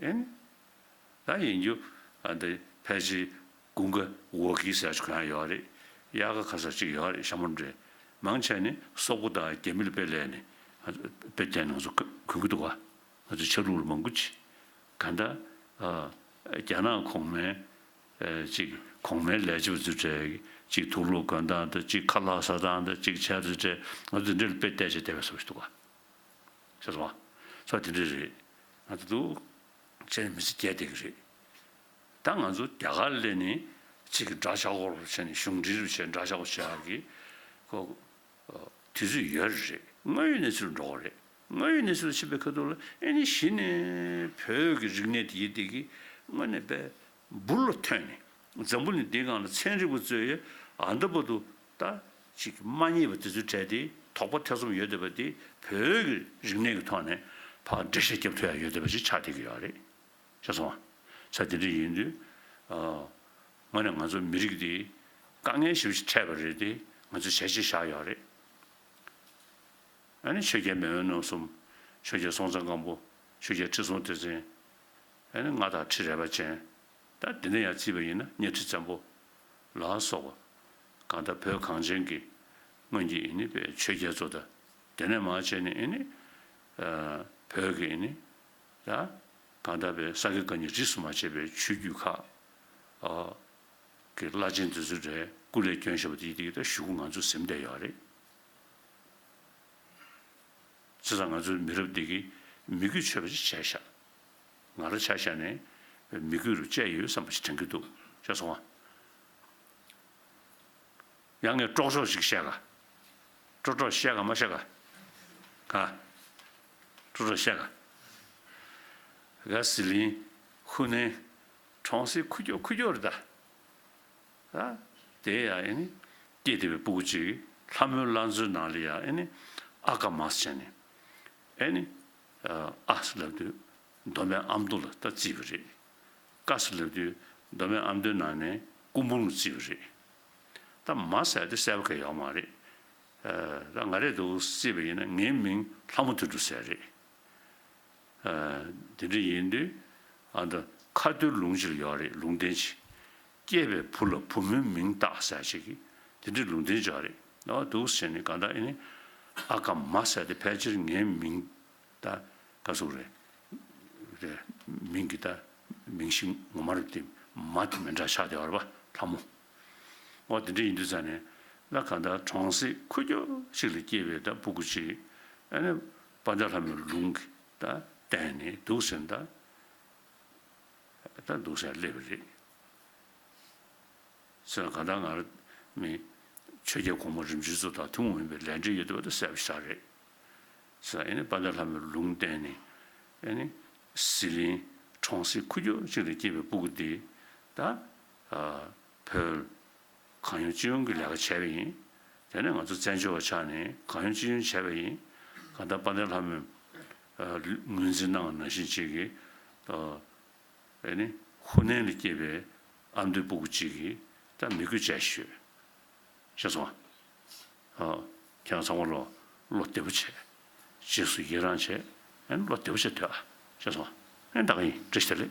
ཨིན། ད་ཡིན་རྒྱུ། འདི་ཕལ་ཆེར་གུང་གི་འོག་གི་ས་ཆ་གང་ཡང་ཡོད་རེད། གཡག་གི་ཁ་ས་གཅིག་ཡོད་རེད་ཤ་མོ་འདྲེ། མང་ཆེ་ནི་སོག་པོ་དང་རྒྱ་མི་ལ་དཔེ་ལས་ནས། དཔེ་དེ་ང་ཚོ་གོན་གི་འདུག་བ། ང་ཚོ་ཆག་ལུགས་ལ་མང་པོ་བྱེད། ད་ལྟ། རྒྱ་ནག་གོང་མའི། གཅིག་གོང་མའི་ལས་བྱེད་པ་ཚོའི་གྲས། གཅིག་དུག་ལུག་གོན་སྟངས་དང་གཅིག་ཁ་ལག་ཟ་སྟངས་དང་གཅིག་ཆལ་ཚེ་གྲས། ང་ཚོ་འདི་འདྲ་ལ་དཔེ་བལྟས་བྱས་བལྟས་བས་བཟོ་བྱེད་འདུག་བ། ཟེར་སོང། ཚོ་དེ་འདྲ་རེད། ང་ཚོ་འདུག་བྱས་ནས་མི་ཚེ་བསྐྱལ་བསྡད་ཀྱི་རེད། ད་ང་ཚོ་རྒྱ་གར་སླེབས་ནས་ཚིག་གི་འདྲ་ཤག་ཁོར་བྱས་ནས་གཞུང་འབྲེལ་རུ་བྱས་འདྲ་ཤག་ཁོ་བྱས་ཡག་གི། ཁོ། དུས་ཚོད་ཡོད་རེད། དངོས་ཡོད་གནས་ཚུལ་འགྲོ་གི་རེད། དངོས་ཡོད་གནས་ཚུལ་ལ་ཕྱི་པའི་ཁ་ཐུག་ལ་ཨེ་ནི་གཞི་ནས་བོད་ཀྱི་རིག་གནས་དེ་ཡིད་བཏེགས་ཀྱི་དངོས་གནས་པའི་འབུར་ལ་ཐོན་ནས་འཛམ་བུ་ནི་འདིའི་སྒང་ལ་ཚན་རིག་པ་གཙོས་ཡ་འདབ་པ་དུ་ད་ཅིག་མ་རྙེད་པ་དེ་ཚོའི་གྲས་དེ་དོགས་པ་ཐེ་ཚོམ་ཡོད་འདོད་པ་དེ་བོད་ཀྱི་རིག་གནས་ཀྱི་ཐོག་ནས་ཕ་འདྲེ་ཤ་སྐྱབས་མཐུ་ཡང་ཡོད་འདོད་པ་ཞིག་ཆགས་བསྡད་ཀྱི་ཡོད་རེད་ཤེས་སོང་ང་ཚ་དེ་འདྲ་ཡིན་དུས་དངོས་ནས་ང་ཚོ་མི་རིགས་དེ་དཀའ་ངལ་ཞིབ་ཅིག་འཕྲད་པ་རེད་དེ་ང་ཚོས་བྱས་རྗེས་བཞག་ཡོད་རེད་ཨ་ནི་ཆོས་རྒྱལ་མེས་དབོན་ནོར་གསུམ་ཆོས་རྒྱལ་སྲོང་བཙན་སྒམ་པོ་ཆོས་རྒྱལ་ཁྲི་སྲོང་ལྡེ་བཙན་ཨ་ནི་མངའ་བདག་ཁྲི་རལ་པ་ཅན་ད་དེ་འདྲ་ཡང་བརྩིས་པ་ཡིན་ན་གཉའ་ཁྲི་བཙན་པོ་ལ་སོགས་པ་གང་དག་བོད་གངས་ཅན་གྱི། སྔོན་གྱི་ཨེ་ནི་བེ་ཆོས་རྒྱལ་ཚོ་དང། དེ་ནས་མ་ཕྱེད་ནས་ཨེ་ནི། བོད་ཀྱི་ཨེ་ནི། ལ། གང་དག་བེ་ས་ཀི་ཀ་ནི་རིས་སུ་མ་ཆད་པའི་ཆོས་བརྒྱུད་ཁག། གི་བླ་ཆེན་དེ་ཚོའི་རེ་སྐུ་ལས་སྐྱོན་ཞེས་པ་དེ་ཡི་དྭགས་ཞུ་སྐུ་ང་ཚོ་གཟིམ་བསྡད་ཡོད་རེད། ཚེ་སང་ང་ཚོའི་མི་རབས་འདི་གི་མི་རྒྱུད་ཆོས་པ་ཅིག་བྱས་ཤག། ང་ར་ཆ་ཤ་ནས། མི་རྒྱུད་རུ་བཅས་ཡོད་བསམ་པ་ཞིག་དྲན་གྱི་འདུག་ཅེས་སོང་བ། ཡང་ངས་དཀྲོགས་ཤོག་ཞིག་བཤད་ག། དཀྲོགས་དཀྲོགས་བཤད་ག་མ་བཤད་ག། ག། དཀྲོགས་དཀྲོགས་བཤད་ག། ག་ཟི་ལིང། ཧུ་ནན། གྲོང་གསེབ་ཁུ་ཁྱོ་ཁུ་ཁྱོ་རེད་ད། ད། དེ་ཡང་ཨེ་ནི། སྐྱེས་དེ་བའི་སྤུ་གུ་ཅིག་ལྷ་མོའི་བླ་མཚོའི་ནང་ལ་ཡང་ཨེ་ནི། ཨ་ཀ་མ་སི་བྱས་ནས། ཨེ་ནི། ཨ་སི་ལབ་དུས་མདོ་སྨད་ཨ་མདོ་ལ་ལྟ་རྩིས་པ་རེད། བཀའ་ཟུར་ལབ་དུས་མདོ་སྨད་ཨ་མདོའི་ནང་ནས་སྐུ་འབུམ་ལ་རྩིས་པ་རེད། ད་མ་གསལ་ཏེ་གསལ་བ་ག་ཡོག་མ་རེད། ད་ང་རེད་འདུག་རྩིས་པ་ཡིན་ན་ངའི་མིང་ལྷ་མོ་དུད་འགྲོ་ཟེར་རེད། དེ་འདྲ་ཡིན་དུས་ཨ་མདོ་ཁ་སྟོད་ལུང་སྤྱི་ལ་ཡོག་རེད་ལུང་བསྟན་ཅིག། སྐྱེས་པའི་བུ་ལ་བུ་མོའི་མིང་བཏགས་ཟེར་ཅིག་གི་དེ་འདྲའི་ལུང་བསྟན་ཅོག་རེད་འདུག་ཟེར་ནས་གང་ལྟར་ཨེ་ཨ་ཀ་མ་གསལ་ཏེ་ཕལ་ཆེར་ངའི་མིང། ད། བཀའ་གསུང་རེད། རེད། མིང་གི་ད། མིང་གཞི་ངོ་མ་རེད་དེ། མ་དེ་མི་འདྲ་ཤག་དེ་བར་པ་ལྷ་མོ། ཨོ་དེ་འདྲ་ཡིན་དུས་ཙང་ནས། ལ་ག་ད་གྲོང་གསེབ་ཁུ་རྒྱོ་ཞིག་ལ་སྐྱེས་པའི་ད་སྤུ་གུ་ཅིག་ཨ་ནེ་པ་འདྲ་ལྷ་མོའི་ལུང་གི་ད་བསྟན་ནས་འདུག་ཟེར་ད། ད་འདུག་ཟེར་ཡ་སླེབས་རེད། ཟེར་ག་ད་ང་ར་མེད། ཆོས་རྒྱལ་གོང་མ་རིམ་བྱོན་ཚོ་དང་ཐུན་མོང་ཡིན་པའི་ལས་འབྲེལ་ཡོད་དུ་བ་ད་གསལ་བོ་ཤག་རེད། ཟེར། དཔའ་བརྒྱ་ལྷ་མོའི་ལུང་བསྟན་ནས། ཟི་ལིང་གྲོང་གསེབ་ཁུལ་རྒྱུད་གཅིག་ཏུ་སྐྱེས་པའི་སྤུ་གུ་འདི་དང། བོད་གང་ཡོང་ཅི་ཡོང་གི་ལས་ཀ་བྱས་པ་ཡིན། དེ་ནས་ང་ཚོ་བཙན་བྱོལ་བ་ཆགས་ནས་གང་ཡོང་ཅི་ཡོང་བྱས་པ་ཡིན། གང་ལྟར་དཔའ་བརྒྱ་ལྷ་མོས་ངོས་འཛིན་གནང་བ་ནང་བཞིན་གཅིག་གིས། ཧུ་ནན་ལ་སྐྱེས་པའི་ཨ་མདོའི་སྤུ་གུ་གཅིག་གིས་ད་མི་དགོས་བྱས་ཤོད། ཤ་ཚ་བ། ཁྱེད་རང་ཚང་མ་བློ་བདེ་པོ་བྱེད། རྗེས་སུ་ཡི་རང་བྱེད། ཨེ་བློ་བདེ་པོ་བྱེད་འདོད་ཨ། ཅེས་སོང། ཨེ་ད་ག་ཡིན་འདྲི་ཞེས་ལེ།